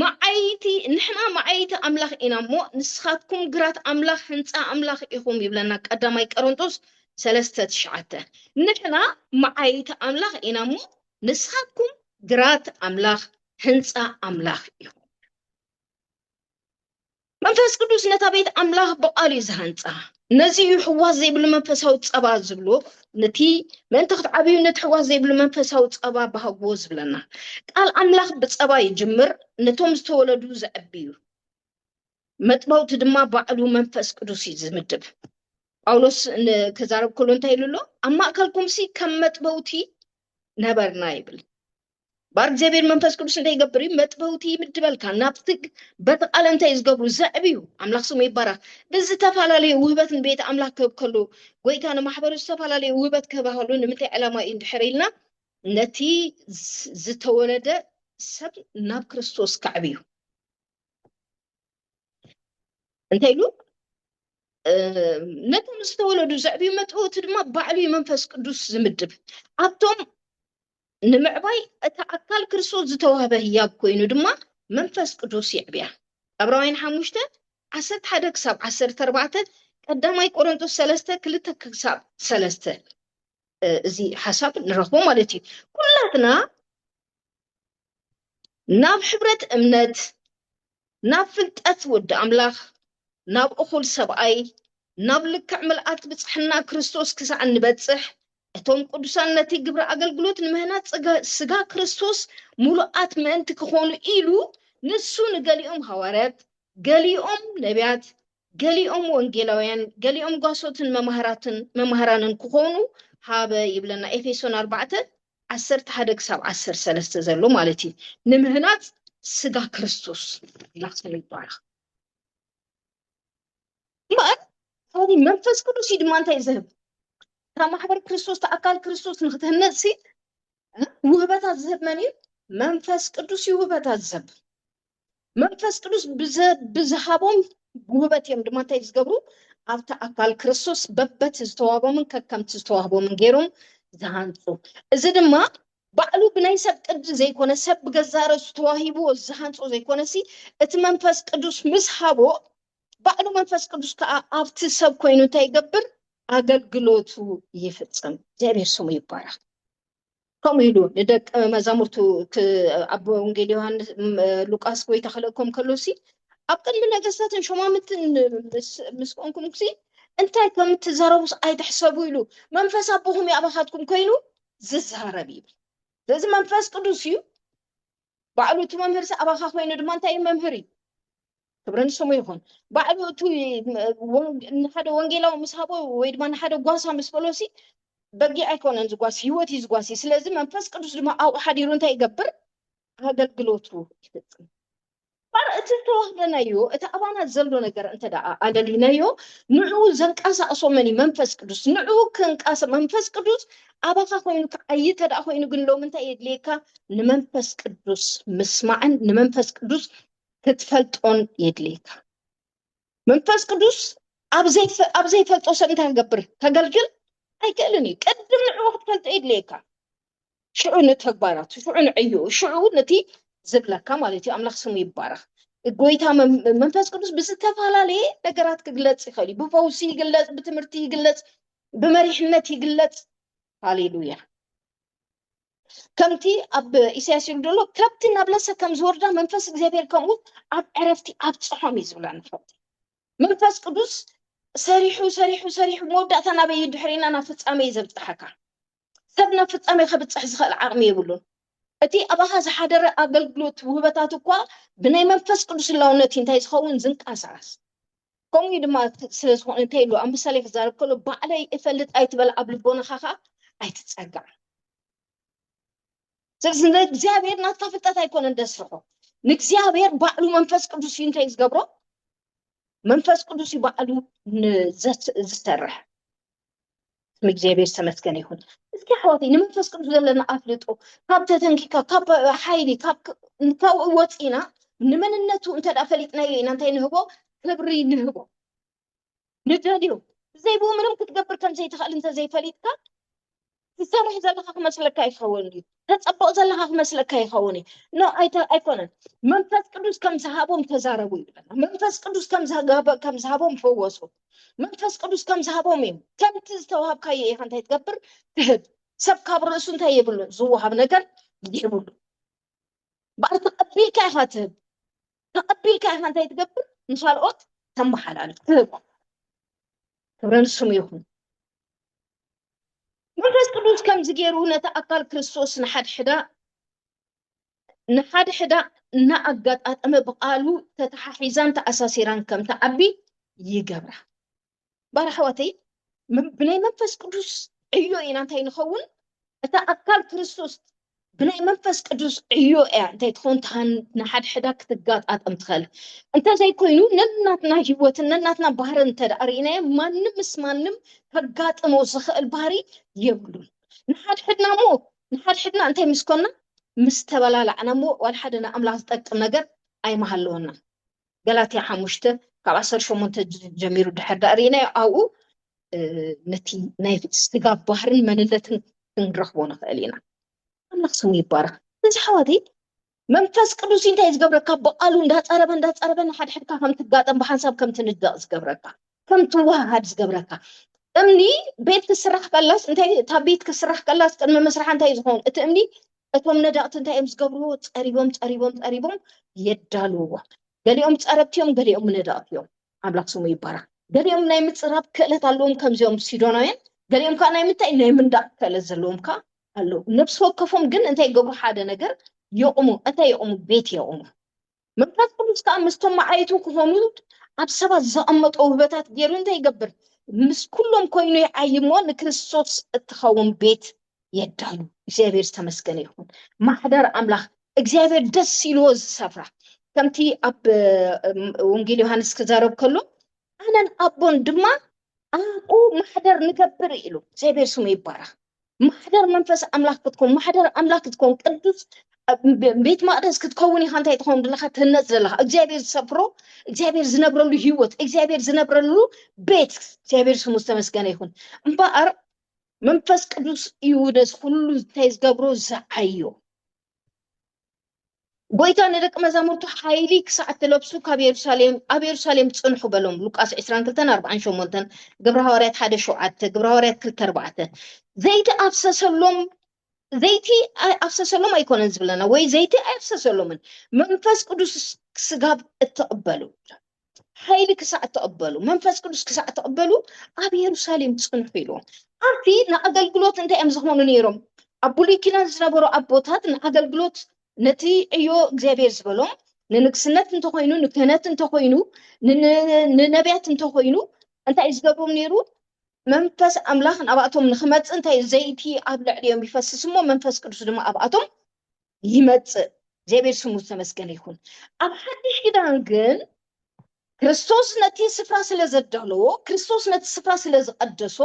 መዓይቲ ንሕና መዓይቲ ኣምላኽ ኢና እሞ ንስኻትኩም ግራት ኣምላኽ ህንፃ ኣምላኽ ኢኹም ይብለና ቀዳማይ ቀረንጦስ ሰለስተ ትሽዓተ ንሕና መዓይቲ ኣምላኽ ኢና እሞ ንስኻትኩም ግራት ኣምላኽ ህንፃ ኣምላኽ ኢኹም መንፈስ ቅዱስ ነታ ቤት ኣምላኽ ብቓሉ እዩ ዝሃንጻ። ነዚ እዩ ሕዋስ ዘይብሉ መንፈሳዊ ጸባ ዝብሎ ነቲ ምእንቲ ክትዓብዩ ነቲ ሕዋስ ዘይብሉ መንፈሳዊ ጸባ ባህግዎ ዝብለና። ቃል ኣምላኽ ብጸባ ይጅምር፣ ነቶም ዝተወለዱ ዘዕቢ እዩ። መጥበውቲ ድማ ባዕሉ መንፈስ ቅዱስ እዩ ዝምድብ። ጳውሎስ ክዛረብ ከሎ እንታይ ኢሉ ኣሎ? ኣብ ማእከልኩምሲ ከም መጥበውቲ ነበርና ይብል። ባር እግዚኣብሔር መንፈስ ቅዱስ እንታይ ይገብር እዩ መጥበውቲ ይምድበልካ ናብቲ በቲ ቃል እንታይ ዝገብሩ ዘዕብዩ ኣምላኽ ስሙ ይባረኽ ብዝተፈላለዩ ውህበት ንቤት ኣምላኽ ክህብ ከሉ ጎይታ ንማሕበሩ ዝተፈላለዩ ውህበት ክህብ ከሉ ንምንታይ ዕላማ እዩ እንድሕር ኢልና ነቲ ዝተወለደ ሰብ ናብ ክርስቶስ ከዕብዩ እንታይ ኢሉ ነቶም ዝተወለዱ ዘዕብዩ መጥበውቲ ድማ ባዕሉ መንፈስ ቅዱስ ዝምድብ ኣብቶም ንምዕባይ እታ ኣካል ክርስቶስ ዝተዋህበ ህያብ ኮይኑ ድማ መንፈስ ቅዱስ የዕብያ። ዕብራውያን ሓሙሽተ ዓሰርተ ሓደ ክሳብ ዓሰርተ ኣርባዕተ ቀዳማይ ቆሮንቶስ ሰለስተ ክልተ ክሳብ ሰለስተ እዚ ሓሳብ ንረኽቦ ማለት እዩ። ኩላትና ናብ ሕብረት እምነት ናብ ፍልጠት ወዲ ኣምላኽ፣ ናብ እኹል ሰብኣይ፣ ናብ ልክዕ ምልኣት ብጽሕና ክርስቶስ ክሳዕ እንበጽሕ፣ እቶም ቅዱሳን ነቲ ግብሪ ኣገልግሎት ንምህናጽ ስጋ ክርስቶስ ምሉኣት ምእንቲ ክኾኑ ኢሉ ንሱ ንገሊኦም ሃዋርያት፣ ገሊኦም ነብያት፣ ገሊኦም ወንጌላውያን፣ ገሊኦም ጓሶትን መማህራትን መማህራንን ክኾኑ ሃበ ይብለና ኤፌሶን ኣርባዕተ ዓሰርተ ሓደ ክሳብ ዓሰርተ ሰለስተ ዘሎ ማለት እዩ ንምህናፅ ስጋ ክርስቶስ ኢላ ትብል ይባረኽ እምበኣር ካብዚ መንፈስ ቅዱስ እዩ ድማ እንታይ ዝህብ እታ ማሕበር ክርስቶስ እቲ ኣካል ክርስቶስ ንክትህነፅ ሲ ውህበታት ዝህብ መን እዩ መንፈስ ቅዱስ እዩ ውህበታት ዝህብ መንፈስ ቅዱስ ብዝሃቦም ጉህበት እዮም ድማ እንታይ ዝገብሩ ኣብቲ ኣካል ክርስቶስ በበት ዝተዋህቦምን ከከምቲ ዝተዋህቦምን ገይሮም ዝሃንፁ እዚ ድማ ባዕሉ ብናይ ሰብ ቅዲ ዘይኮነ ሰብ ብገዛእ ርእሱ ተዋሂብዎ ዝሃንፆ ዘይኮነሲ እቲ መንፈስ ቅዱስ ምስ ሃቦ ባዕሉ መንፈስ ቅዱስ ከዓ ኣብቲ ሰብ ኮይኑ እንታይ ይገብር ኣገልግሎቱ ይፍፅም እግዚኣብሔር ስሙ ይባረክ ከምኡ ኢሉ ንደቀ መዛሙርቱ ኣብ ወንጌል ዮሃንስ ሉቃስ ጎይታ ክልእኮም ከሎሲ ኣብ ቅድሚ ነገስታትን ሾማምንትን ምስ ኮንኩምሲ እንታይ ከም እትዛረቡስ ኣይትሕሰቡ ኢሉ መንፈስ ኣቦኹም እዩ ኣባኻትኩም ኮይኑ ዝዛረብ ይብል። ስለዚ መንፈስ ቅዱስ እዩ ባዕሉ እቲ መምህርሲ ኣባኻ ኮይኑ ድማ እንታይ እዩ መምህር እዩ ክብሪ ንስሙ ይኹን ባዕሉ እቲ ንሓደ ወንጌላዊ ምስ ሃቦ ወይ ድማ ንሓደ ጓሳ ምስ በሎሲ በጊ ኣይኮነን ዝጓስ ህይወት እዩ ዝጓሲ ስለዚ መንፈስ ቅዱስ ድማ ኣብኡ ሓዲሩ እንታይ ይገብር ኣገልግሎቱ ይፍፅም እምበኣር እቲ ዝተዋህበናዮ፣ እቲ ኣባና ዘሎ ነገር እንተ ደኣ ኣለሊናዮ፣ ንዕኡ ዘንቀሳቕሶ መን እዩ? መንፈስ ቅዱስ። ንዕኡ ክንቀሳ መንፈስ ቅዱስ ኣባኻ ኮይኑ ክዓዪ እንተ ደኣ ኮይኑ ግን ሎሚ እንታይ የድልየካ? ንመንፈስ ቅዱስ ምስማዕን ንመንፈስ ቅዱስ ክትፈልጦን የድልየካ። መንፈስ ቅዱስ ኣብ ዘይፈ ኣብ ዘይፈልጦ ሰብ እንታይ ክገብር ከገልግል ኣይክእልን እዩ። ቅድም ንዕኡ ክትፈልጦ የድልየካ። ሽዑ ንተግባራቱ ሽዑ ንዕዩ ሽዑ ነቲ ዝብለካ ማለት እዩ ኣምላኽ ስሙ ይባረኽ ጎይታ መም- መንፈስ ቅዱስ ብዝተፈላለየ ነገራት ክግለጽ ይኽእል እዩ ብፈውሲ ይግለጽ ብትምህርቲ ይግለጽ ብመሪሕነት ይግለጽ ሃሌሉያ ከምቲ ኣብ ኢሳያስ ይብል ዘሎ ከብቲ ናብ ለሰ ከም ዝወርዳ መንፈስ እግዚኣብሔር ከምኡ ኣብ ዕረፍቲ ኣብፅሖም እዩ ዝብለና ከብቲ መንፈስ ቅዱስ ሰሪሑ ሰሪሑ ሰሪሑ መወዳእታ ናበይ እዩ ድሕሪና ናብ ፍፃመ እዩ ዘብፅሓካ ሰብ ናብ ፍጻሜ ከብጽሕ ዝኸእል ዓቕሚ የብሉን። እቲ ኣባኻ ዝሓደረ ኣገልግሎት ውህበታት እኳ ብናይ መንፈስ ቅዱስ ህላውነት እዩ እንታይ ዝኸውን ዝንቀሳቐስ። ከምኡ እዩ ድማ ስለ ዝኾነ እንታይ ኢሉ ኣብ ምሳሌ ክዛረብ ከሎ ባዕለይ እፈልጥ ኣይትበል ኣብ ልቦናኻ ኸኣ ኣይትጸጋዕ። ስለዚ ንእግዚኣብሔር ናትካ ፍልጠት ኣይኮነን ደስርሖ ንእግዚኣብሔር ባዕሉ መንፈስ ቅዱስ እዩ እንታይ ዝገብሮ መንፈስ ቅዱስ እዩ ባዕሉ ዝሰርሕ ስም እግዚኣብሔር ዝተመስገነ ይኹን። እስኪ ኣሕዋተይ ንመንፈስ ቅዱስ ዘለና ኣፍልጦ ካብ ተተንኪካ ካብ ሓይሊ ካብኡ ወፂና ንመንነቱ እንተ ፈሊጥናዮ ኢና እንታይ ንህቦ ክብሪ ንህቦ ንደልዮ ብዘይብኡ ምንም ክትገብር ከም ዘይትኽእል እንተዘይፈሊጥካ ትሰርሕ ዘለካ ክመስለካ ይኸውን እዩ ተፀብቕ ዘለካ ክመስለካ ይኸውን እዩ ኖ ኣይተ- ኣይኮነን መንፈስ ቅዱስ ከም ዝሃቦም ተዛረቡ ይብለና መንፈስ ቅዱስ ከም ዝሃበ- ከም ዝሃቦም ፈወሱ መንፈስ ቅዱስ ከም ዝሃቦም እዩ ከምቲ ዝተዋሃብካዮ ኢኻ እንታይ ትገብር ትህብ ሰብ ካብ ርእሱ እንታይ የብሉ ዝወሃብ ነገር ይህብሉ በኣር ተቐቢልካ ኢኻ ትህብ ተቐቢልካ ኢኻ እንታይ ትገብር ንካልኦት ተመሓላልፍ ትህብ ክብረ ንስሙ ይኹን መንፈስ ቅዱስ ከምዚ ገይሩ ነታ ኣካል ክርስቶስ ንሓድሕዳ ንሓድሕዳ እናኣጋጣጠመ ብቃሉ ተተሓሒዛን ተኣሳሲራን ከም ትዓቢ ይገብራ ባር ኣሕዋተይ ብናይ መንፈስ ቅዱስ ዕዮ ኢና እንታይ ንኸውን እታ ኣካል ክርስቶስ ብናይ መንፈስ ቅዱስ ዕዮ እያ እንታይ ትኸውን ንሓድሕዳ ክትጋጣጠም ትኽእል እንተዘይኮይኑ ነናትና ህይወትን ነናትና ባህርን እንተደኣ ርኢናዮ ማንም ምስ ማንም ከጋጥሞ ዝኽእል ባህሪ የብሉን ንሓድሕድና እሞ ንሓድሕድና እንታይ ምስ ኮና ምስ ተበላላዕና እሞ ዋላ ሓደ ንኣምላኽ ዝጠቅም ነገር ኣይመሃለወና ገላትያ ሓሙሽተ ካብ ዓሰርተ ሸሞንተ ጀሚሩ ድሕር ዳእ ርኢናዮ ኣብኡ ነቲ ናይ ስጋ ባህርን መንነትን ክንረኽቦ ንኽእል ኢና ኣምላኽ ስሙ ይባረኽ እዚ ሓዋተይ መንፈስ ቅዱስ እንታይ ዝገብረካ ብቃሉ እንዳፀረበ እንዳፀረበ ንሓድሕድካ ከም ትጋጠም ብሓንሳብ ከም ትንደቕ ዝገብረካ ከም ትወሃሃድ ዝገብረካ እምኒ ቤት ክስራሕ ከላስ እንታይ እታ ቤት ክስራሕ ከላስ ቅድሚ ምስራሕ እንታይ ዝኸውን እቲ እምኒ እቶም ነዳቕቲ እንታይ እዮም ዝገብርዎ ፀሪቦም ፀሪቦም ፀሪቦም የዳልውዎ ገሊኦም ፀረብቲ እዮም ገሊኦም ነዳቕቲ እዮም ኣምላኽ ስሙ ይባረክ ገሊኦም ናይ ምፅራብ ክእለት ኣለዎም ከምዚኦም ሲዶናውያን ገሊኦም ከዓ ናይ ምንታይ ናይ ምንዳቅ ክእለት ዘለዎም ከዓ ኣለዉ ነብሲ ወከፎም ግን እንታይ ይገብሩ ሓደ ነገር የቑሙ እንታይ የቑሙ ቤት የቑሙ መንፈስ ቅዱስ ከዓ ምስቶም መዓይቱ ክኾኑ ኣብ ሰባት ዘቐመጦ ውህበታት ገይሩ እንታይ ይገብር? ምስ ኩሎም ኮይኑ ይዓይ እሞ ንክርስቶስ እትኸውን ቤት የዳሉ። እግዚኣብሔር ዝተመስገነ ይኹን። ማሕደር ኣምላኽ እግዚኣብሔር ደስ ኢልዎ ዝሰፍራ ከምቲ ኣብ ወንጌል ዮሃንስ ክዛረብ ከሎ ኣነን ኣቦን ድማ ኣብኡ ማሕደር ንገብር ኢሉ። እግዚኣብሔር ስሙ ይባረኽ። ማሕደር መንፈስ ኣምላኽ ክትኮን ማሕደር ኣምላኽ ክትኮን ቅዱስ ቤት መቅደስ ክትከውን ኢኻ እንታይ ትኸውን ዘለካ ትህነፅ ዘለካ እግዚኣብሔር ዝሰፍሮ እግዚኣብሔር ዝነብረሉ ህይወት እግዚኣብሔር ዝነብረሉ ቤት እግዚኣብሔር ስሙ ዝተመስገነ ይኹን እምበኣር መንፈስ ቅዱስ እዩ ነዚ ኩሉ እንታይ ዝገብሮ ዝዓዮ ጎይታ ንደቂ መዛሙርቱ ሓይሊ ክሳዕ እትለብሱ ካብ የሩሳሌም ኣብ የሩሳሌም ጽንሑ በሎም ሉቃስ 22:48 ግብረ ሃዋርያት 1:7 ግብረ ሃዋርያት 2:4 ዘይቲ ኣፍሰሰሎም ዘይቲ ኣፍሰሰሎም ኣይኮነን ዝብለና ወይ ዘይቲ ኣይፍሰሰሎምን መንፈስ ቅዱስ ስጋብ እትቕበሉ ሓይሊ ክሳዕ እትቕበሉ መንፈስ ቅዱስ ክሳዕ እትቕበሉ ኣብ የሩሳሌም ጽንሑ ኢልዎም ኣብቲ ንኣገልግሎት እንታይ እዮም ዝኾኑ ነይሮም ኣብ ብሉይ ኪዳን ዝነበሩ ኣቦታት ንኣገልግሎት ነቲ ዕዮ እግዚኣብሔር ዝበሎም ንንግስነት እንተኾይኑ ንክህነት እንተኾይኑ ንነቢያት እንተኾይኑ እንታይ ዝገብሮም ነይሩ መንፈስ ኣምላኽ ናብኣቶም ንክመጽእ እንታይ ዘይቲ ኣብ ልዕሊኦም ይፈስስ እሞ መንፈስ ቅዱስ ድማ ኣብኣቶም ይመጽእ እግዚኣብሔር ስሙ ዝተመስገነ ይኹን ኣብ ሓድሽ ኪዳን ግን ክርስቶስ ነቲ ስፍራ ስለ ዘዳለዎ ክርስቶስ ነቲ ስፍራ ስለ ዝቐደሶ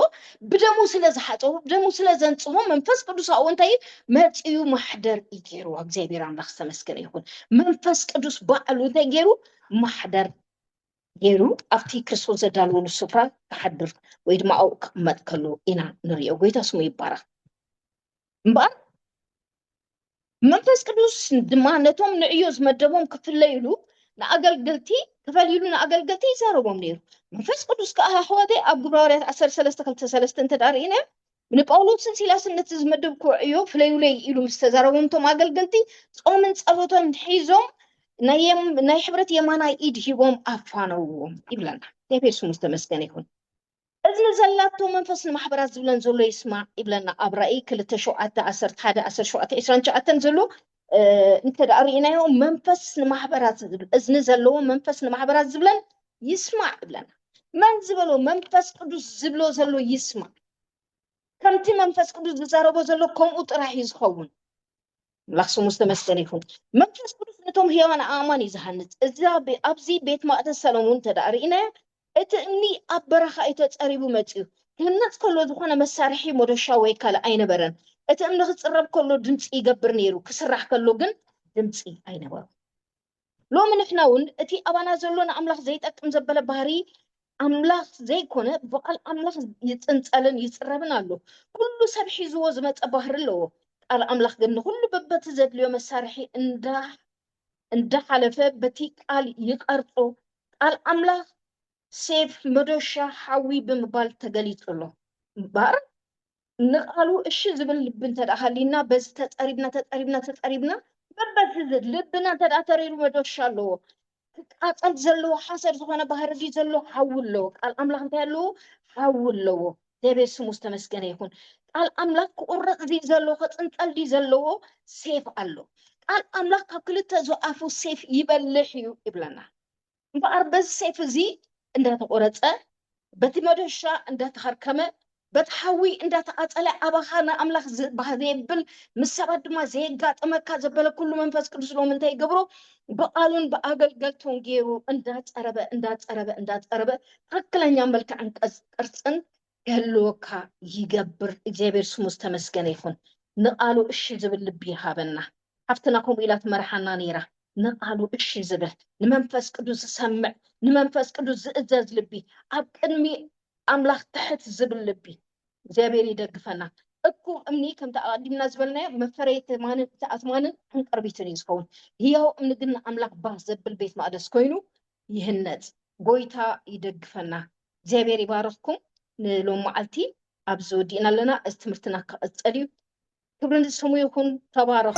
ብደሙ ስለ ዝሓፀቡ ብደሙ ስለ ዘንጽሆ መንፈስ ቅዱስ ኣብኡ እንታይ እዩ መፅኡ ማሕደር እዩ ገይርዎ እግዚኣብሔር ኣምላኽ ዝተመስገነ ይኹን መንፈስ ቅዱስ ባዕሉ እንታይ ገይሩ ማሕደር ገይሩ ኣብቲ ክርስቶስ ዘዳለወሉ ስፍራ ክሓድር ወይ ድማ ኣብኡ ክቕመጥ ከሎ ኢና ንሪኦ ጎይታ ስሙ ይባረኽ እምበኣር መንፈስ ቅዱስ ድማ ነቶም ንዕዮ ዝመደቦም ክፍለይሉ ንኣገልገልቲ ክፈልይሉ ንኣገልገልቲ ይዛረቦም ነይሩ መንፈስ ቅዱስ ከዓ ኣሕዋተይ ኣብ ግብራውርያት ዓሰር ሰለስተ ክልተ ሰለስተ እንተ ርእና ንጳውሎስን ሲላስን ነቲ ዝመደብኩ ዕዮ ፍለዩለይ ኢሉ ምስ ተዛረቦም እቶም ኣገልገልቲ ጾምን ጸሎቶም ሒዞም ናይ ሕብረት የማናይ ኢድ ሂቦም ኣፋነዎም ይብለና እግዚኣብሔር ስሙ ዝተመስገነ ይኹን እዝኒ ዘላቶ መንፈስ ንማሕበራት ዝብለን ዘሎ ይስማዕ ይብለና ኣብ ራኢ ክልተ ሸውዓተ ዓሰርተ ሓደ ዓሰርተ ሸውዓተ ዕስራን ትሽዓተን ዘሎ እንተ ርእናዮ መንፈስ ንማሕበራት ዝብል እዝኒ ዘለዎ መንፈስ ንማሕበራት ዝብለን ይስማዕ ይብለና መን ዝበሎ መንፈስ ቅዱስ ዝብሎ ዘሎ ይስማዕ ከምቲ መንፈስ ቅዱስ ዝዛረቦ ዘሎ ከምኡ ጥራሕ እዩ ዝኸውን ኣምላኽ ስሙ ዝተመስገነ ይኹን። መንፈስ ቅዱስ ነቶም ህያዋን ኣእማን እዩ ዝሃንጽ። እዛ ብ- ኣብዚ ቤት ማእተስ ሰለሙን እንተ ደኣ ርኢናዮ እቲ እምኒ ኣብ በረኻ እዩ ተጸሪቡ መጺኡ። ክህነጽ ከሎ ዝኾነ መሳርሒ ሞዶሻ ወይ ካልእ ኣይነበረን። እቲ እምኒ ክጽረብ ከሎ ድምጺ ይገብር ነይሩ፣ ክስራሕ ከሎ ግን ድምጺ ኣይነበሮን። ሎሚ ንሕና እውን እቲ ኣባና ዘሎ ንኣምላኽ ዘይጠቅም ዘበለ ባህሪ ኣምላኽ ዘይኮነ ብቓል ኣምላኽ ይጽንጸልን ይጽረብን ኣሎ። ኩሉ ሰብ ሒዝዎ ዝመጸ ባህሪ ኣለዎ። ቃል ኣምላኽ ግን ንኹሉ በበቲ ዘድልዮ መሳርሒ እንዳሓለፈ በቲ ቃል ይቐርጾ። ቃል ኣምላኽ ሴፍ፣ መዶሻ፣ ሓዊ ብምባል ተገሊጹ ኣሎ እምበር ንቃሉ እሺ ዝብል ልቢ እንተ ሃልዩና በዚ ተፀሪብና ተፀሪብና ተፀሪብና በበዚ ልብና እንተ ተሪሩ መዶሻ ኣለዎ ክቃፀል ዘለዎ ሓሰር ዝኾነ ባህሪ ድዩ ዘለዎ ሓዊ ኣለዎ ቃል ኣምላኽ እንታይ ኣለዎ ሓዊ ኣለዎ እግዚኣብሔር ስሙ ዝተመስገነ ይኹን ቃል ኣምላኽ ክቁረፅ ድዩ ዘለዎ ክፅንፀል ድዩ ዘለዎ ሴፍ ኣሎ ቃል ኣምላኽ ካብ ክልተ ዝኣፉ ሴፍ ይበልሕ እዩ ይብለና እምበኣር በዚ ሰይፊ እዚ እንዳተቖረጸ፣ በቲ መዶሻ እንዳተኸርከመ፣ በቲ ሓዊ እንዳተቓጸለ ኣባኻ ንኣምላኽ ዝ ባህ ዘየብል ምስ ሰባት ድማ ዘየጋጥመካ ዘበለ ኩሉ መንፈስ ቅዱስ ሎሚ እንታይ ይገብሮ ብቓሉን ብኣገልገልቱን ገይሩ እንዳጸረበ እንዳጸረበ እንዳጸረበ ትኽክለኛ መልክዕን ቅርጽ- ቅርጽን ክህልወካ ይገብር። እግዚኣብሔር ስሙ ዝተመስገነ ይኹን። ንቓሉ እሺ ዝብል ልቢ ይሃበና። ሓፍትና ከምኡ ኢላ ትመርሓና ነይራ፣ ንቓሉ እሺ ዝብል፣ ንመንፈስ ቅዱስ ዝሰምዕ፣ ንመንፈስ ቅዱስ ዝእዘዝ ልቢ፣ ኣብ ቅድሚ ኣምላኽ ትሕት ዝብል ልቢ። እግዚኣብሔር ይደግፈና። እኩብ እምኒ ከምቲ ኣቐዲምና ዝበልናዮ መፈረይ ትማንን እቲ ኣትማንን ዕንቅርቢትን እዩ ዝኸውን። ህያው እምኒ ግን ንኣምላኽ ባህ ዘብል ቤት መቕደስ ኮይኑ ይህነጽ። ጎይታ ይደግፈና። እግዚኣብሔር ይባርኽኩም። ንሎም መዓልቲ ኣብዚ ወዲእና ኣለና። እዚ ትምህርትና ክቕጽል እዩ። ክብሪ ንስሙ ይኹን ተባረኹ።